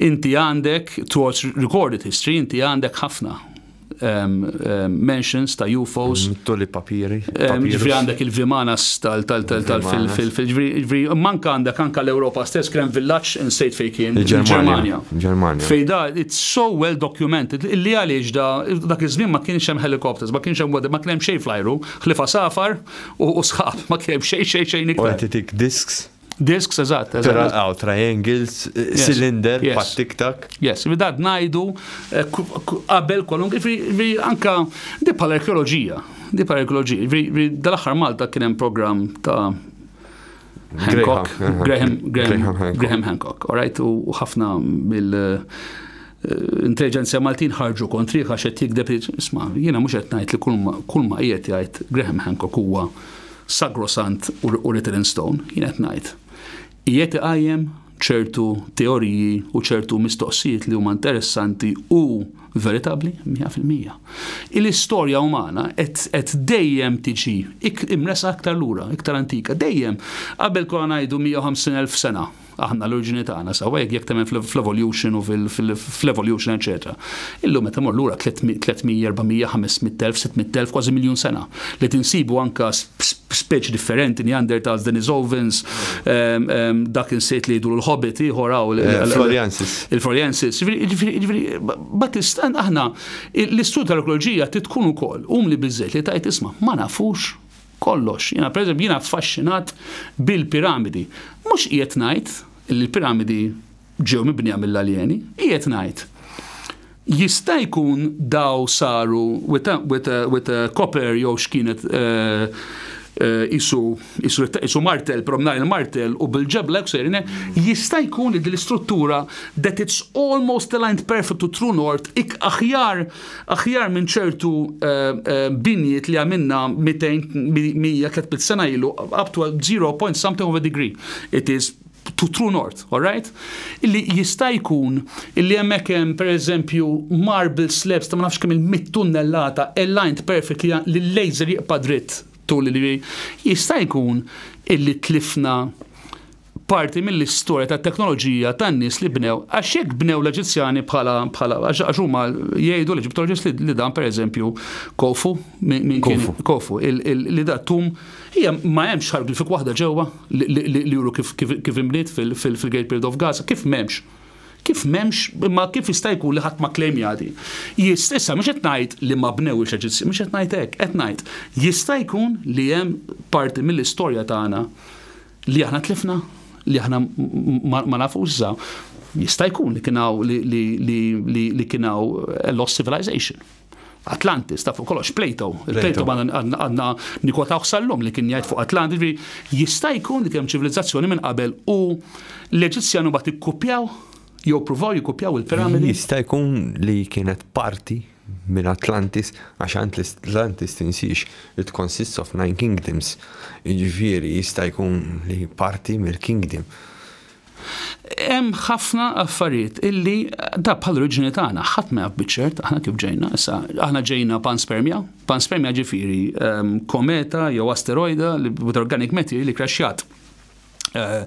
inti għandek towards recorded history, inti għandek ħafna um, um, mentions ta' UFOs. Mm, Toli papiri. Um, ġviri għandek il-vimanas tal-fil-ġviri, manka għandek anka l-Europa stess krem villaċ insejt fej kien. Il-Germania. Germania. Fej da, it's so well documented, illi għaliex da, dak iż-żmien ma kienx hemm helikopters, ma kienx hemm ma kienx hemm xejn flajru, ħlifa safar, U sħab, ma kien xejn xejn xejn iktar. U titik disks? Disks, eżatt, eżatt. Għaw, triangles, cylinder, pat tiktak. Yes, mi dad najdu, eh, qabel kolum, vi anka di pal arkeologija di pal arkeologija vi dal-axar Malta kienem program ta' Hancock, Graham, Graham, Hancock, all right, u ħafna mill eh, intelligenzja Maltin ħarġu kontri għax qed jikdeb isma' jiena mhux qed ngħid li kull ma qiegħed jgħid Graham Hancock huwa sagrosant u written in stone, jien qed ngħid. Qiegħed iqajjem ċertu teoriji u ċertu mistoqsijiet li huma interessanti u veritabbli 100%. Il-istorja umana qed dejjem tiġi imres aktar lura, iktar antika, dejjem qabel konna ngħidu 150,000 sena aħna l-oriġini tagħna sawa jekk jekk temmen fl-evolution u fl-evolution eċetera. Illum meta mor lura 300, 400, 500,000, 600,000 kważi miljun sena. li qed insibu anke speċi differenti, Neanderthals, Denisovans, dak insejt li jidhru l-Hobbit ieħor hawn. Eh, Floriansis. Il-Floriansis. Batistan aħna l-istud tal-ekoloġija titkun ukoll um li biżżejt li tajt isma' ma nafux kollox. Jiena pereżempju jiena affaxxinat bil-piramidi. Mhux qiegħed ngħid il-piramidi ġew mibnija mill-aljeni, qiegħed ngħid, jista' jkun daw saru with a, with a, with a copper jew x'kienet isu, isu, isu martel, promnar il-martel u bil-ġebla ksejrine, jista' jkun li l-istruttura that it's almost aligned perfect to true north ik aħjar aħjar minn ċertu binjiet li għamilna 200 100 300 sena ilu up to 0. something of a degree. It is to true north, all right? Illi jista' jkun illi hemmhekk hemm pereżempju marble slabs ta' ma nafx kemm il-mit tunnellata aligned perfect li l-laser jiqpa' dritt tul li jista' jkun illi tlifna parti mill-istorja tat-teknoloġija tan-nies li bnew. Għax jekk bnew l-Eġizzjani bħala bħala għax huma jgħidu l-Eġittoloġist li dan pereżempju Kofu minn Kofu li da tum Hija ma hemmx hieroglyphic waħda ġewwa li juru kif imliet fil-Great Pyramid of Gaza, kif m'hemmx? Kif m'hemmx, imma kif jista' jkun li ħadd ma kklemja din? Issa mhux qed ngħid li ma bnewhiex Eġizzjani, mhux qed ngħid hekk, qed ngħid jista' jkun li hemm parti mill-istorja tagħna li aħna tlifna, li aħna ma nafux issa. Jista' jkun li kien hawn li kien hawn lost civilization. Atlantis, ta' fuq kollox, Plato. Il-Plato għanna nikotawh sal-lum li kien jgħid fuq Atlantis, ġifieri, jista' jkun li kemm ċivilizzazzjoni minn qabel u l-Eġizzjan huma tikkupjaw jew provaw jikkupjaw il-piramidi. Jista' jkun li kienet parti minn Atlantis għax Atlantis tinsiex it consists of nine kingdoms, jiġifieri jista' jkun li parti mill-kingdom. Hemm ħafna affarijiet illi da bħal oriġini tagħna ħadd ma jaf biċċert aħna kif ġejna issa aħna ġejna panspermja, panspermja ġifieri ehm, kometa jew asteroida li with organic matter li crashjat eh,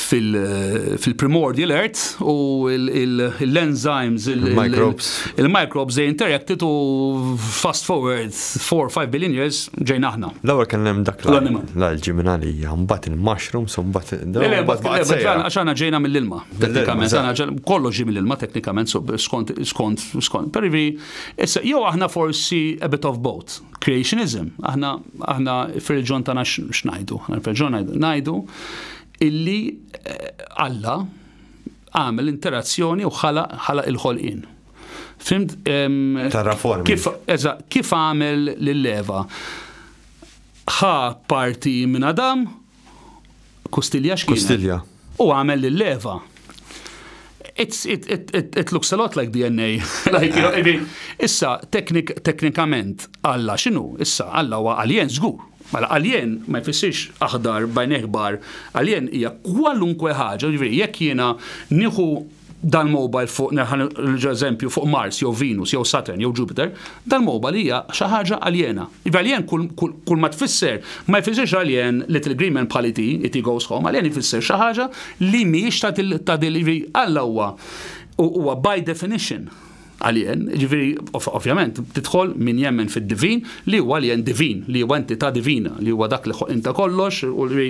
fil-primordial fil earth u l-enzymes, il-microbes, il-microbes they interacted u fast forward Four, five billion years ġejna aħna. L-ewwel kien hemm dak l-alġi minn għalija, mbagħad il-mushrooms u mbagħad Le le, għax aħna ġejna mill-ilma. Teknikament, kollox ġie mill-ilma teknikament skont skont skont. Perivi, issa jew aħna forsi a bit of both. Creationism, aħna aħna fir-reġjon tagħna x'ngħidu, aħna fir-reġjon ngħidu illi Alla għamel interazzjoni u ħalaq il-ħolqien. Fimt? Ta' raformi. Kif, eża, kif għamel l-leva? ħa parti minn Adam, kustilja xkien. Kustilja. U għamel l-leva. It's, it, it, it, it looks a lot like DNA. like, you know, I mean, issa, teknik, teknikament, Alla xinu? Issa, Alla huwa alien żgur. Mela, alien ma jfissirx aħdar bajn ekbar, alien hija kwalunkwe ħaġa, ġifieri jekk jiena nieħu dal-mobile fuq, nerġa' eżempju, fuq Mars jew Venus jew Saturn jew Jupiter, dal-mobile hija xi ħaġa aljena. Iva alien kull ma tfisser, ma jfissirx alien little green man bħal E.T. E.T. goes home, alien jfisser xi ħaġa li mhijiex ta' din, Alla huwa huwa by definition, Alien, jiġifieri ovvjament tidħol min jemmen fid-divin li huwa alien divin, li huwa entità divina, li huwa dak li ħoq inta kollox u li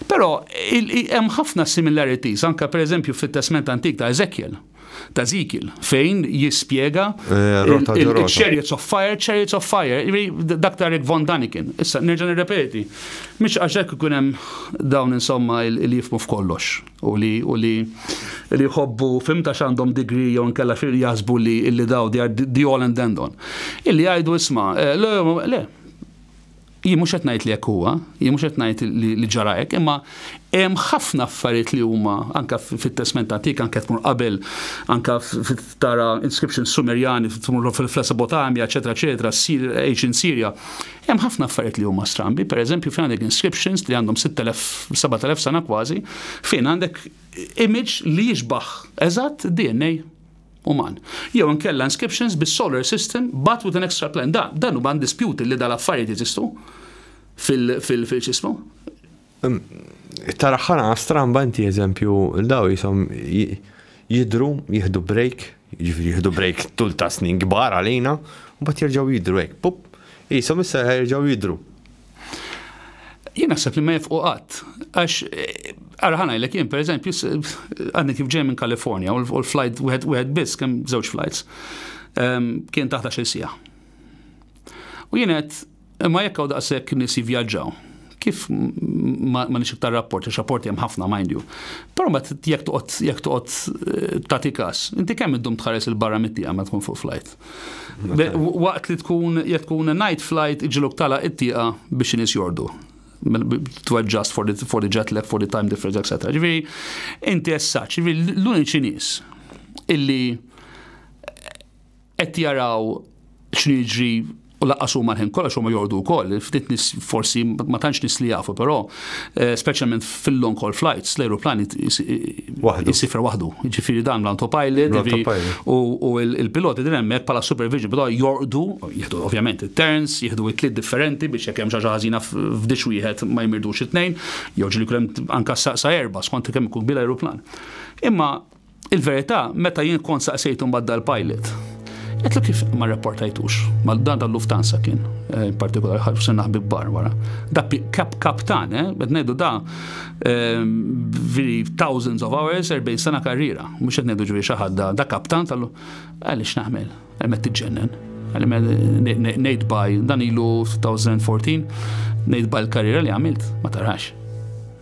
però hemm ħafna similarities anke pereżempju fit-Testment Antik ta' Eżekjel ta' Ezekiel fejn jispjega chariots of fire, chariots of fire, dak ta' Rick Von Daniken. Issa nerġa' nirrepeti, mhix għax hekk ikun hemm dawn insomma li jifmu f'kollox. u li u li li jħobbu fimta x'għandhom degree jew nkella xi jaħsbu li illi daw they are the all and end on. Illi jgħidu isma' eh, le, le, jien mhux qed ngħid li hekk huwa, jien mhux qed ngħid li ġara hekk, imma hemm ħafna affarijiet li huma anke fit-testment antik anke tmur qabel anke tara inscriptions Sumerjani tmur fil-Mesopotamja, eċetera, eċetera, ssir ancient Sirja. Hemm ħafna affarijiet li huma strambi, pereżempju fejn għandek inscriptions li għandhom 6000, 7000 sena kważi, fejn għandek image li jixbaħ eżatt DNA uman. Jew inkella inscriptions bis-solar system but with an extra plan. Dan dan huwa dispute li dal-affarijiet jeżistu fil-ċismu. Tara ħana stramba inti eżempju daw jisom jidru, jihdu break, jiġifieri jihdu break tul ta' snin kbar għalina, u bat jirġaw jidru hekk, pup, jisom issa jirġaw jidru. Jien naħseb li ma jifqu qatt, għax ara ħana jlek jien pereżempju għandni kif ġej minn Kalifornja u l-flight wieħed biss kemm żewġ flights ehm, kien taħt il sija. U jien qed Imma jekk hawn daqshekk nies jivvjaġġaw, kif ma nix iktar rapport, għax rapporti hemm ħafna mind you. Però ma jekk toqgħod jekk toqgħod eh, tagħti każ, inti kemm iddum tħares il-barra mit-tieqa ma tkun fuq flight. Waqt li tkun jekk tkun night flight iġiluk tala it-tieqa biex inis jordu to adjust for the, for the jet lag, for the time difference, etc. Ġifieri, inti essaċ, ġifieri l-uniċi nies illi qed jaraw x'inhu jiġri u laqqas huma l-ħin kollox huma jordu wkoll, ftit nis forsi ma tantx nis li jafu, però eh, speċjalment fil-long haul flights, l-aeroplan jisifra waħdu. Ġifieri dan l-autopilot u il-piloti din hemmhekk bħala supervision, però jordu, jieħdu ovvjament it-turns, jieħdu it-tliet differenti biex jekk hemm xi ħażina f'dix wieħed ma jmirdux it-tnejn, jew ġili kulem anka sa erba' skont kemm ikun bil-aeroplan. Imma Il-verità, meta jien kont saqsejtu mbagħad dal-pilot, Għetlu kif ma rapportajtux, ma dan tal luftansa kien, eh, in partikolari ħalfu se naħbib bar wara. Da kap kaptan, eh, bed nejdu da eh, veri thousands of hours, 40 sena karriera, mux qed nejdu ġviri xaħad da, da kaptan tal għalli xnaħmel, għalmet t-ġennen, għalli nejdu baj, dan ilu 2014, nejdu baj l-karriera li għamilt, ma tarax.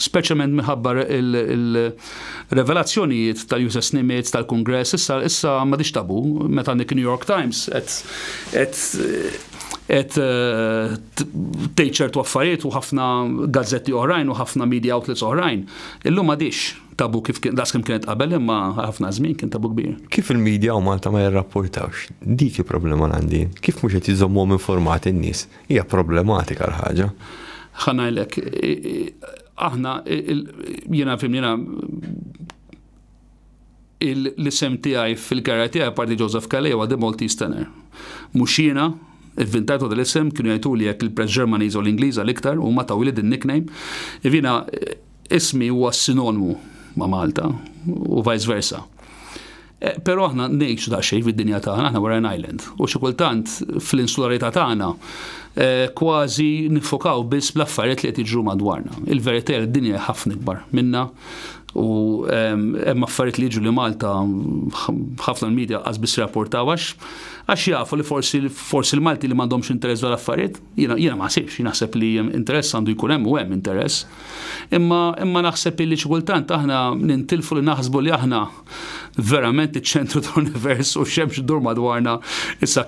speċjalment minħabba il-revelazzjonijiet tal-Uses Nimitz tal-Kungress, issa issa ma dix tabu meta nik New York Times qed qed qed eh, tgħid ċertu affarijiet u ħafna gazzetti oħrajn u ħafna media outlets oħrajn. Illum ma dix tabu kif das kim kienet qabel imma ħafna żmien kien tabu kbir. Kif il-medja u Malta ma jirrapportawx? Dik il-problema għandi. Kif mhux qed jiżommhom informati n-nies? Hija problematika l-ħaġa. Ħa ngħidlek, aħna jiena fim jiena l-isem tiegħi fil-karja tiegħi parti Joseph Calais huwa The Maltese Tenor. Mhux jiena, Ivvintajtu dal isem kienu jgħidu li jekk il-press Ġermaniża u l-Ingliża l-iktar u ma tawili din nickname. Ivina ismi huwa sinonmu ma' Malta u vice versa. Però aħna ngħixu daqsxejn fid-dinja tagħna, aħna we're an island. U xi kultant fl-insularità tagħna eh, kważi nifokaw biss bl-affarijiet li qed jiġru madwarna. Il-verità d-dinja ħafna ikbar minna u ehm, hemm affarijiet li jiġu li Malta ħafna l-medja qas biss rapportaw għax għax jafu li forsi forsi l-Malti li m'għandhomx interess dwar affarijiet, jiena jiena ma ħsibx, naħseb li interess għandu jkun hemm u hemm interess. Imma imma naħseb li xi kultant aħna nintilfu li naħsbu li aħna verament iċ-ċentru tal-univers u xemx idur madwarna. Issa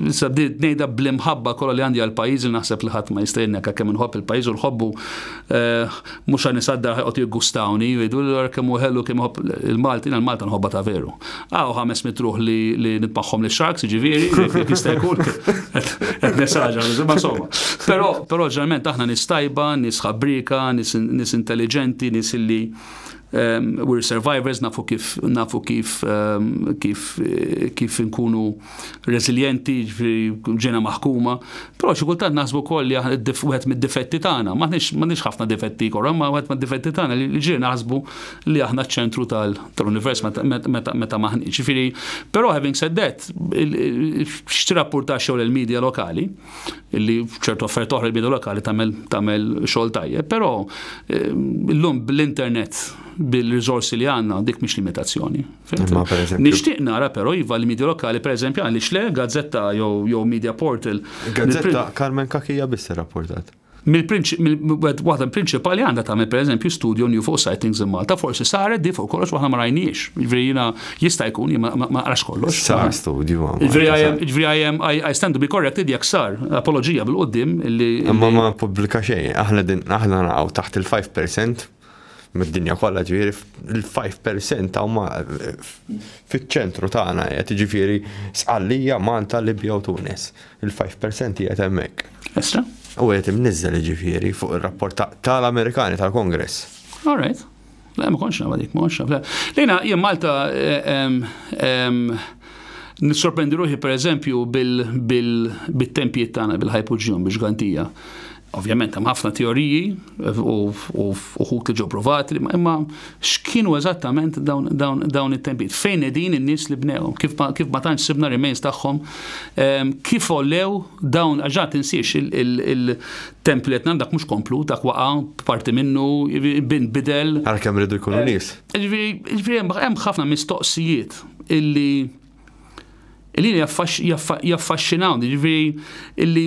issa bdiet ngħidha bl-imħabba kollha li għandi għall-pajjiż li naħseb li ħadd ma jista' jenneka kemm inħobb il-pajjiż u nħobbu eh, mhux għan nisaddar ħajqgħod jiggustawni jridu kemm hu ħellu kemm ħobb il-Malti għal Malta nħobba ta' veru. Aw ħames mitruħ li li nitmaħħom li sharks ġifieri jekk jista' jkun qed nesaġa ma insomma. Però però ġeneralment aħna nistajba, nisħabrika, nis intelligenti, nis illi Um, we're survivors, nafu kif, nafu kif, um, kif, kif nkunu resilienti, ġena maħkuma, pero xikultant naħsbu koll li għed mid-difetti tagħna, maħniex ħafna difetti korra, ma għed mid-difetti tagħna li ġiri naħsbu li aħna ċentru tal-univers meta maħni. Ġifiri, pero having said that, xtirapporta xogħol il-medja lokali, illi f'ċertu affarijiet oħra l-bidu lokali tagħmel tagħmel xogħol tajjeb, però ehm, llum bl-internet bil-riżorsi li għandna dik mhix limitazzjoni. Nixtieq nara però iva li media lokali pereżempju għaliex le gazzetta jew media portal. Gazzetta Carmen Kakija biss rapportat. Waħda prinċipali għandha tagħmel pereżempju studju new fuq sightings in Malta, forsi saret di fuq kollox waħna ma rajniex. Ġifieri jiena jista' jkun jien ma naqrax kollox. Sar studju. Ġifieri I am I stand to be corrected jekk sar apoloġija bil-qudiem li. Imma ma pubblika xejn, aħna din aħna naqgħu taħt il-5% mid-dinja kollha ġifieri il-5 percent huma fiċ-ċentru tagħna qed ġifieri Sqallija, Malta, Libja u Tunis. Il-5 percent qiegħed hemmhekk. Issa? U qed imniżżel ġifieri fuq ir-rapport tal-Amerikani tal-Kongress. All right. La, ma konx nagħmel dik, ma konx nagħmel. Lejna jien Malta nissorprendi ruħi pereżempju bil-tempijiet tagħna bil-ħajpuġjum biex gantija. Ovvjament hemm ħafna teoriji u uħud li ġew provati, imma x'kienu eżattament dawn it-tempijiet? Fejn qegħdin in-nies li bnewhom? Kif ma tantx sibna remains tagħhom? Kif għollew dawn għax ġa tinsiex il-templi qed dak mhux komplu, dak waqa' parti minnu bidel. Għalkemm rridu jkunu nies. Jiġifieri hemm ħafna mistoqsijiet illi Illi jaffaxxinawni, ġifieri illi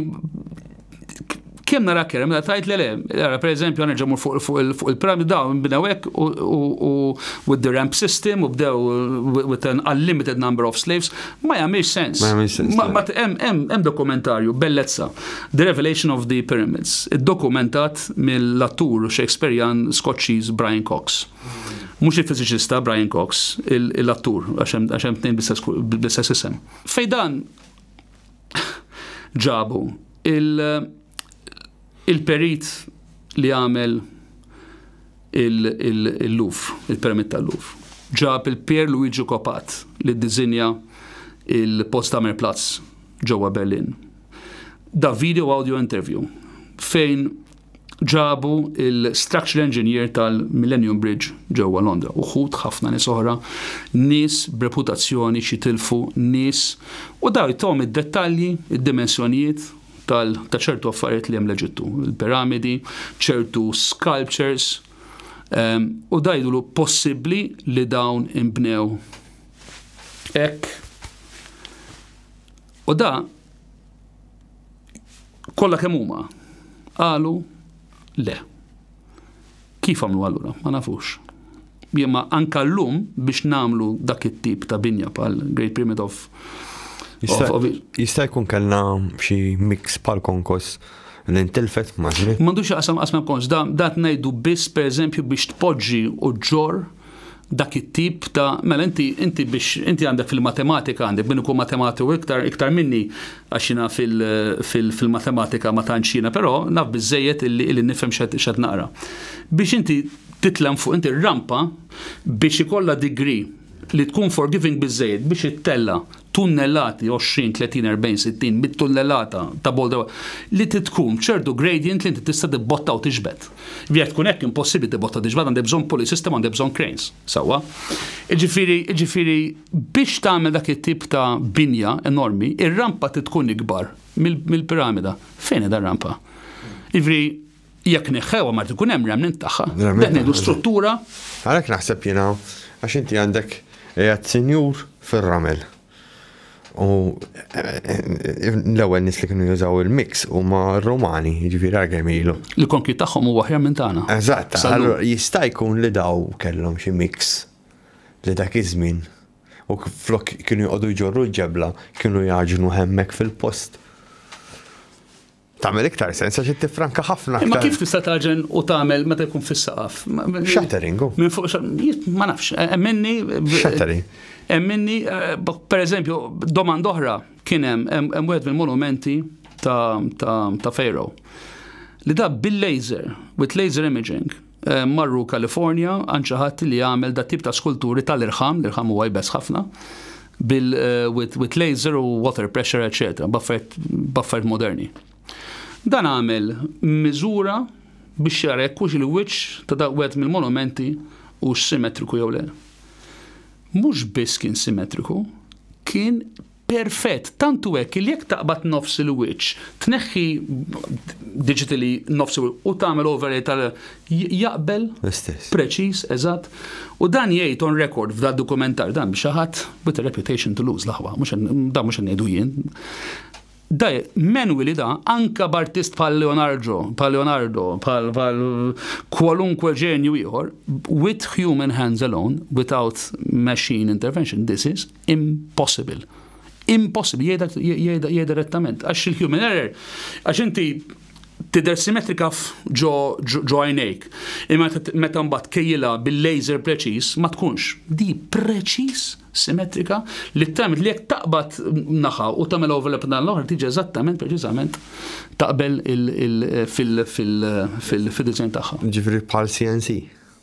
kemm nara kera, meta tajt le le, ara per eżempju għanerġa mur fuq il-pram daw bdew hekk u with the ramp system u bdew with an unlimited number of slaves, ma jagħmilx sens. Ma jagħmilx sens. Ma hemm dokumentarju bellezza, The Revelation of the Pyramids, iddokumentat mill-attur Shakespearean Skoċċiż Brian Cox. Mhux il-fiżiċista Brian Cox, l-attur, għax hemm tnejn bl-istess isem. Fejn dan ġabu il-perit li għamel il-luf, il-permit tal-luf. Ġab il-Pier Luigi Kopat li dizinja il-Potsdamer Platz ġewwa Berlin. Da video audio interview fejn ġabu l-structural engineer tal-Millennium Bridge ġewwa Londra. Uħud ħafna nies oħra, nies b'reputazzjoni xi tilfu, nies u daw jtawhom id-dettalji, id-dimensjonijiet tal ta' ċertu affarijiet li hemm l-Eġittu, il-piramidi, ċertu sculptures, ehm, u dajdulu possibbli li dawn imbnew hekk. U da Kollha kemm huma qalu le. Kif għamlu allura? Ma nafux. Jemma anka llum biex namlu dak it-tip ta' binja pal Great Pyramid of Jista' jkun kellna xi mix pal konkos li ntilfet maġri. M'għandux jaqsam qasma konkos, da tnejdu biss pereżempju biex tpoġġi u ġor dak it-tip ta' mela inti inti biex inti għandek fil-matematika għandek min ikun matematiku iktar iktar minni għax jiena fil-matematika ma tantx jiena però naf biżejjed illi illi nifhem x'qed naqra. Biex inti titlem fuq inti rampa biex ikollha degree li tkun forgiving biżejjed biex ittella tunnellati 20, 30, 40, 60 mit-tunnellata ta' bolda li tkun ċertu gradient li inti tista' tibbotta u tiġbed. Jekk tkun hekk impossibbli tibotta diġ bad għandek bżonn pulley system għandek bżonn cranes. Sewwa. Jiġifieri jiġifieri biex tagħmel dak it-tip ta' binja enormi, ir-rampa trid tkun ikbar mill-piramida. Fejn hi dar-rampa? Jiġifieri jekk neħħewha ma jkun hemm remnant tagħha. Qed ngħidu struttura. Għalhekk naħseb jiena għax inti għandek qiegħed sinjur fir-ramel. U l-ewwel nis li kienu jużaw il-mix huma Romani, jiġifieri għal kemm ilu. Il-konkju tagħhom huwa aħjar minn tagħna. Eżatt, allura jista' jkun li daw kellhom xi mix li dak iż-żmien u flok kienu jqogħdu jġorru ġebla kienu jaġnu hemmek fil-post. Tagħmel iktar sens għax tifranka ħafna aktar. Ma kif tista' taġen u tagħmel meta jkun fis-saqaf? Shattering. Minn fuq ma nafx, e, emminni. Shattering. Emminni, e, per eżempju, domanda oħra kien hemm hemm wieħed mill-monumenti ta' Fejro li da bil-laser, with laser imaging, Marru California għand xi ħadd li jagħmel dat tip ta' skulturi tal-irħam, l-irħam huwa jbess ħafna, bil with, with laser u water pressure, etc. Baffert moderni. Dan għamel miżura biex jara jekk hux il-wiċċ ta' dak wieħed mill-monumenti hux simetriku jew le. Mhux biss kien simetriku, kien Perfett, tant hu hekk li jekk taqbad nofs il-wiċċ, tneħħi digitally nofs il-wiċċ u tagħmel overlay tal jaqbel L-istess. preċiż, eżatt. U dan jgħid on record f'dan dokumentar dan xi ħadd with a reputation to lose l-aħwa, mhux qed- dan mhux qed ngħidu jien. Da manually da anka b'artist bħal Leonardo, bħal Leonardo, bħal bħal kwalunkwe ġenju ieħor, with human hands alone, without machine intervention, this is Impossible. Impossible, jgħidha direttament. Għax il-human error, għax inti tidher simetrika ġo għajnejk. Imma meta mbagħad kejjilha bil-laser preċiż ma tkunx. Di preċiż simetrika li tagħmel li jekk taqbad naħa u tagħmel overlap dan l-oħra tiġi eżattament preċiżament taqbel fil-design tagħha. Ġifri bħal CNC.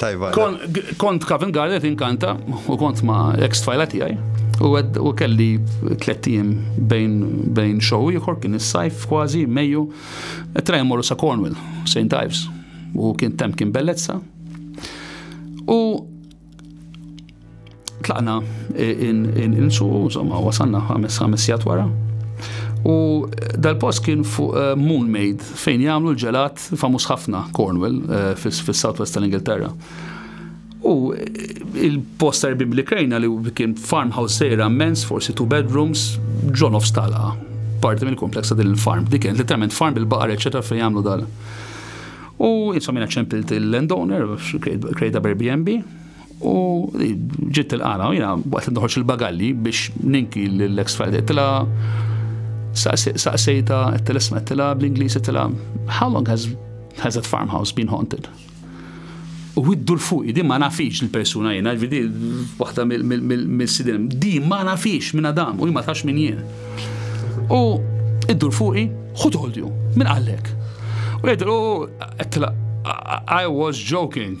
Tajba. Kont Covent Garden inkanta u kont ma' ex tfajla tiegħi. U kelli tliet ijiem bejn show ieħor kien is-sajf kważi Mejju. Trajja morru sa' Cornwall, St. Ives. U kien temp kien bellezza. U Tlaqna insuqu, insomma, wasanna ħames ħames jgħat wara. U dal-post kien fuq eh, Moon Maid fejn jagħmlu l-ġelat famuż ħafna Cornwall eh, fis-southwest tal-Ingilterra. U eh, il-post erbib li krejna li kien farmhouse sejra mens, forsi two bedrooms, ġon of stalqa. Parti mill kompleksa din il-farm. Dik kien literalment farm bil-baqar, eċetera, fejn jagħmlu dal. U insomma ċempilt il-landowner, krejda b'Airbnb, U ġiet tilqana, u jina waqt nħoċ il-bagalli biex ninki l-ex Friday, tila saqsejta, tila smet, tila bl-Inglisi, tila, how long has, has that farmhouse been haunted? U widdu l-fuq, di ma nafix l-persuna jena, vidi, waħda mill-sidin, di ma nafix minn Adam, u ma tax minn jien. U iddu l-fuqi, who told you? Minn għallek? U jgħidlu, I was joking.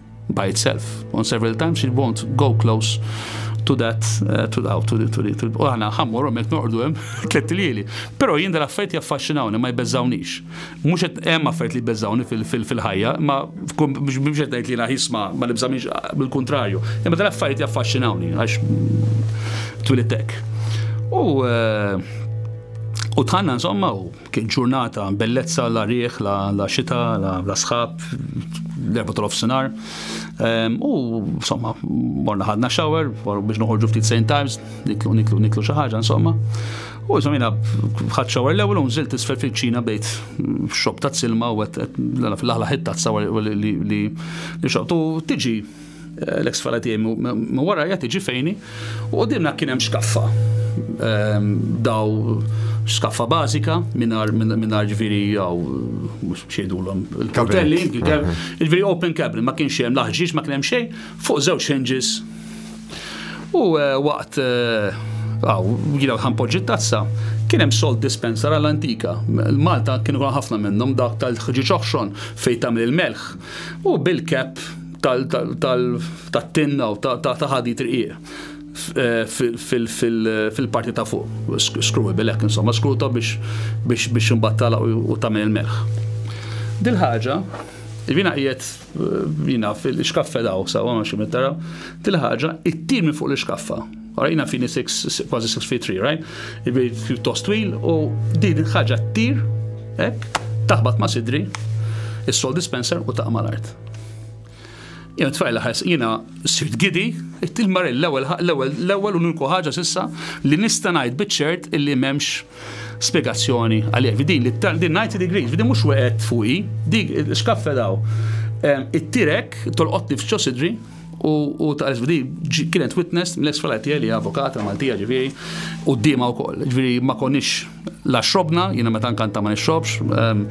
by itself. On several times it won't go close to that, uh, to, oh, to, to, to, u għana ħammur u mek norqdu jem, tlet lili. Pero jien dal affajt jaffaxxinawni, ma jbeżawnix. Mux jem affajt li jbeżawni fil-ħajja, ma mux qed ngħid li jiena jisma ma nibżamix bil-kontrarju. Imma dal affajt jaffaxxinawni għax twilittek. U eh, u tħanna insomma u Kien ġurnata bellezza, la riħ, la, la xita, la, la sħab, l-erba tal-ofsinar. Ehm, u, insomma, morna ħadna shower, biex noħorġu ftit St. Times, niklu, niklu, niklu xi ħaġa, insomma. U insomma jina ħad xawar l-ewwel u nżilt isfel fil-ċina bejt xob ta' silma u għet l-aħla ħitta t-sawar li xoqtu tiġi L-eks fala tiegħi minn wara jgħid iġi fejni u qudiemna kien hemm xkaffa. Ehm, daw skaffa bażika mingħajr ġifieri jew mhux xejdulhom il-kartelli, ġifieri open cabinet ma kienx hemm laħġiex ma kien hemm xejn fuq żewġ hinges. U eh, waqt eh, għaw, jina ħanpoġġi tazza, kien hemm salt dispenser għal antika. Malta kienu ħafna minnhom dak tal-ħġiġ oħxon fejn tagħmel il-melħ. U bil-kep tal-tinna u ta' ħadit rqiq fil-parti ta' fuq. Skruwi bilek, insomma, skruta biex imbagħad tala u tagħmel il-melħ. Dil ħaġa, jiena qiegħed jiena fil-xkaffe daw, sewwa ma xi tara, dil ħaġa ttir minn fuq l-ixkaffa. Ara jiena fini kważi six feet three, right? Jiġifieri pjuttost twil u din il-ħaġa ttir hekk, taħbat ma' sidri, is-salt dispenser u taqa' mal-art. Jena tfajla ħas, jena sirt gidi, il-mar l-ewel, l-ewel, l-ewel uniku ħaġa sissa li nista najt bitċert illi memx spiegazzjoni għalija. Vidin, li t-tan, din 90 degrees, vidin mux weqet fuqi, dik, xkaffe daw. It-tirek, tolqotni f'ċo sidri, u taqres f'di kienet witness mill-ex falat tiegħi li avokata Maltija ġifieri u d-dima wkoll. Ġifieri ma konniex la xrobna, jiena meta nkanta ma nixrobx, ehm,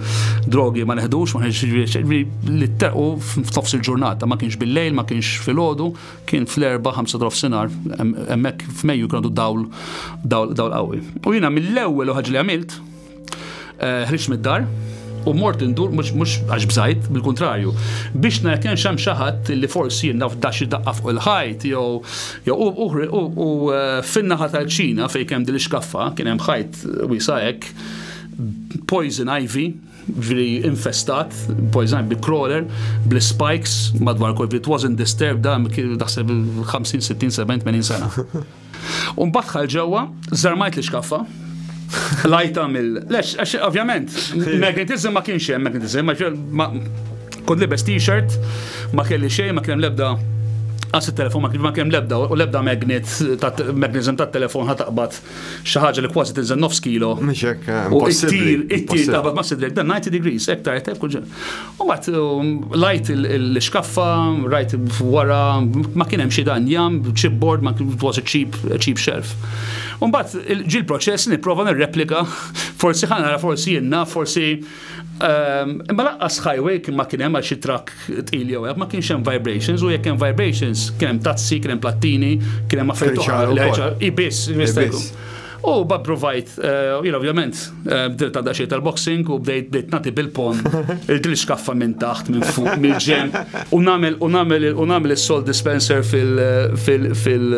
drogi ma neħdux, ma ġifieri li terqu f'nofs il-ġurnata, ma kienx bil-lejl, ma kienx filgħodu, kien fl-erba' ħamsa drof sinar, hemmhekk f'Mejju kienu dawl dawl qawwi. U jiena mill-ewwel ħaġa li għamilt, Eh, ħriġ mid-dar, u mort indur mhux għax bżajt, bil-kuntrarju. Biex nara kien xem xi ħadd li forsi naf daxi daqqa fuq il-ħajt jew jew u eh, fin-naħa tal-Ċina fejn kemm din xkaffa kien hemm ħajt wisa hekk poison ivy veri infestat, poison bi crawler, bl spikes madwar kol, it wasn't disturbed da, daħseb 50, 60, 70, 80 sena. U mbagħad dħal ġewwa, żarmajt l-iskaffa, lajta mill. Lex, għax ovvjament, magnetism ma kienx hemm magnetism, ma kont libes t-shirt, ma kelli xejn, ma kellem lebda għas il-telefon ma kien ma kemm lebda u lebda magnet magnetism ta' telefon ħat taqbad xi ħaġa li kważi tinżel nofs kilo. Mhix hekk. Eh, u ittir, ittir taqbad ma' sidlek dan 90 degrees, hekk ta' hekk kull U bat um, lajt l-xkaffa, rajt wara, ma kienem xie dan jam, chipboard, ma kienem was a cheap, cheap shelf. U bat ġil proċess niprofa nirreplika, forsi ħanara, forsi jenna, forsi. Um, imma laqqas highway kien ma kienem għal xi trak tqil jew ma kienx hemm vibrations u jekk hemm vibrations kien hemm tazzi, kien hemm plattini, kien hemm affarijiet oħra. Ibis, ibis. U ba provajt, eh, jina ovvjament, eh, bdilt għadda xie tal-boxing u bdejt bdejt nati bil-pon, il-dil xkaffa minn taħt, minn fuq, minn ġem, u namel, u namel, u namel il-sol dispenser fil, fil, fil,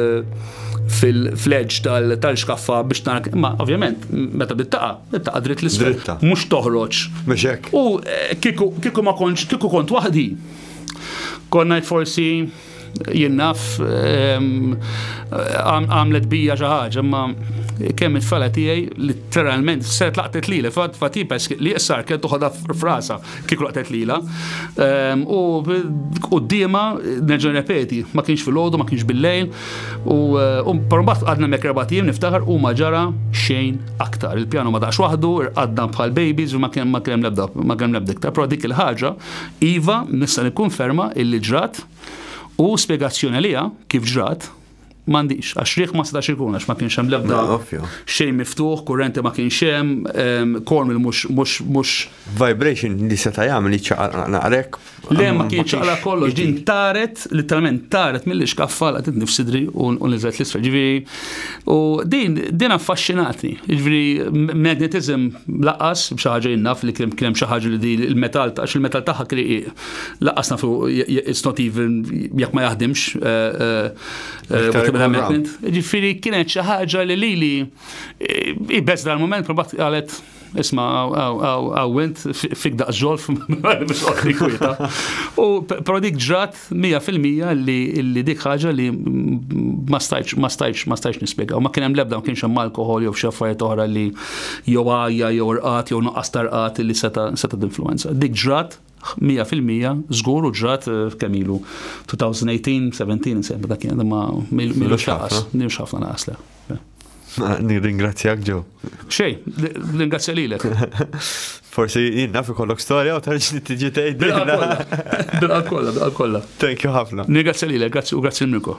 fil-fledġ tal-xkaffa biex tanak, ma ovvjament, meta bittaqa, bittaqa dritt l-isfel. Mux toħroċ. Meċek. U eh, kiku ma konċ, kiku kont wahdi, konnajt forsi Jien naf għamlet bija xi ħaġa, imma kemm it-tfala tiegħi literalment se tlaqtet lili fat fatipes li jessar kien toħodha frasa kif laqtet lila. U qudiema nerġa' repeti, ma kienx filgħodu, ma kienx bil-lejl u mbagħad għadna mek erba' tim niftakar u ma ġara xejn aktar. Il-pjanu ma daqx waħdu, irqadna bħal babies u ma kien hemm l-ebda ma kien hemm l-ebda iktar. Però dik il-ħaġa Iva, nista' nikkunferma illi ġrat u spjegazzjoni għaliha kif ġrat m'għandix għax riħ ma setax ikun għax ma kienx hemm l-ebda xejn miftuħ, kurrenti ma kienx hemm, kormil mhux mhux vibration li seta' jagħmel jiċċaqalaq naqrek. Le ma kienx ċaqla kollox din taret, literalment taret mill-ixkaffa laqtet nifsidri u niżlet l-isfel. Ġifieri U din, din affaxxinatni, ġviri magnetism laqas, bxaħġa jinnaf li kien hemm xi ħaġa li di il-metal, għax il-metal tagħha kriqi, laqas nafu it's not even jekk ma jaħdimx. Ġifieri kienet xi ħaġa li lili ibes dal-moment probat qalet Isma, għaw int fik daqs ġolf, biex għotti kwieta. U pero dik ġrat 100% li dik ħaġa li ma stajċ, ma stajċ, ma stajċ nispiega. U ma kienem lebda, ma kienx hemm alkohol jew xaffariet oħra li jew għajja, jew rqat, jew nuqqas tarqat li seta' seta' d-influenza. Dik ġrat Mija fil-mija, żgur u ġrat eh, kemm ilu 2018, 17 insejn dak kien ma milux ħafna. Milux ħafna naqas le. Nirringrazzjak ġew. Xej, ringrazzja lilek. Forsi jien naf ikollok storja u tarġ li tiġi tgħid. Bil-qalb kollha, bil-qalb kollha. Thank you ħafna. Nirringrazzja lilek, grazzi u grazzi l-Mirko.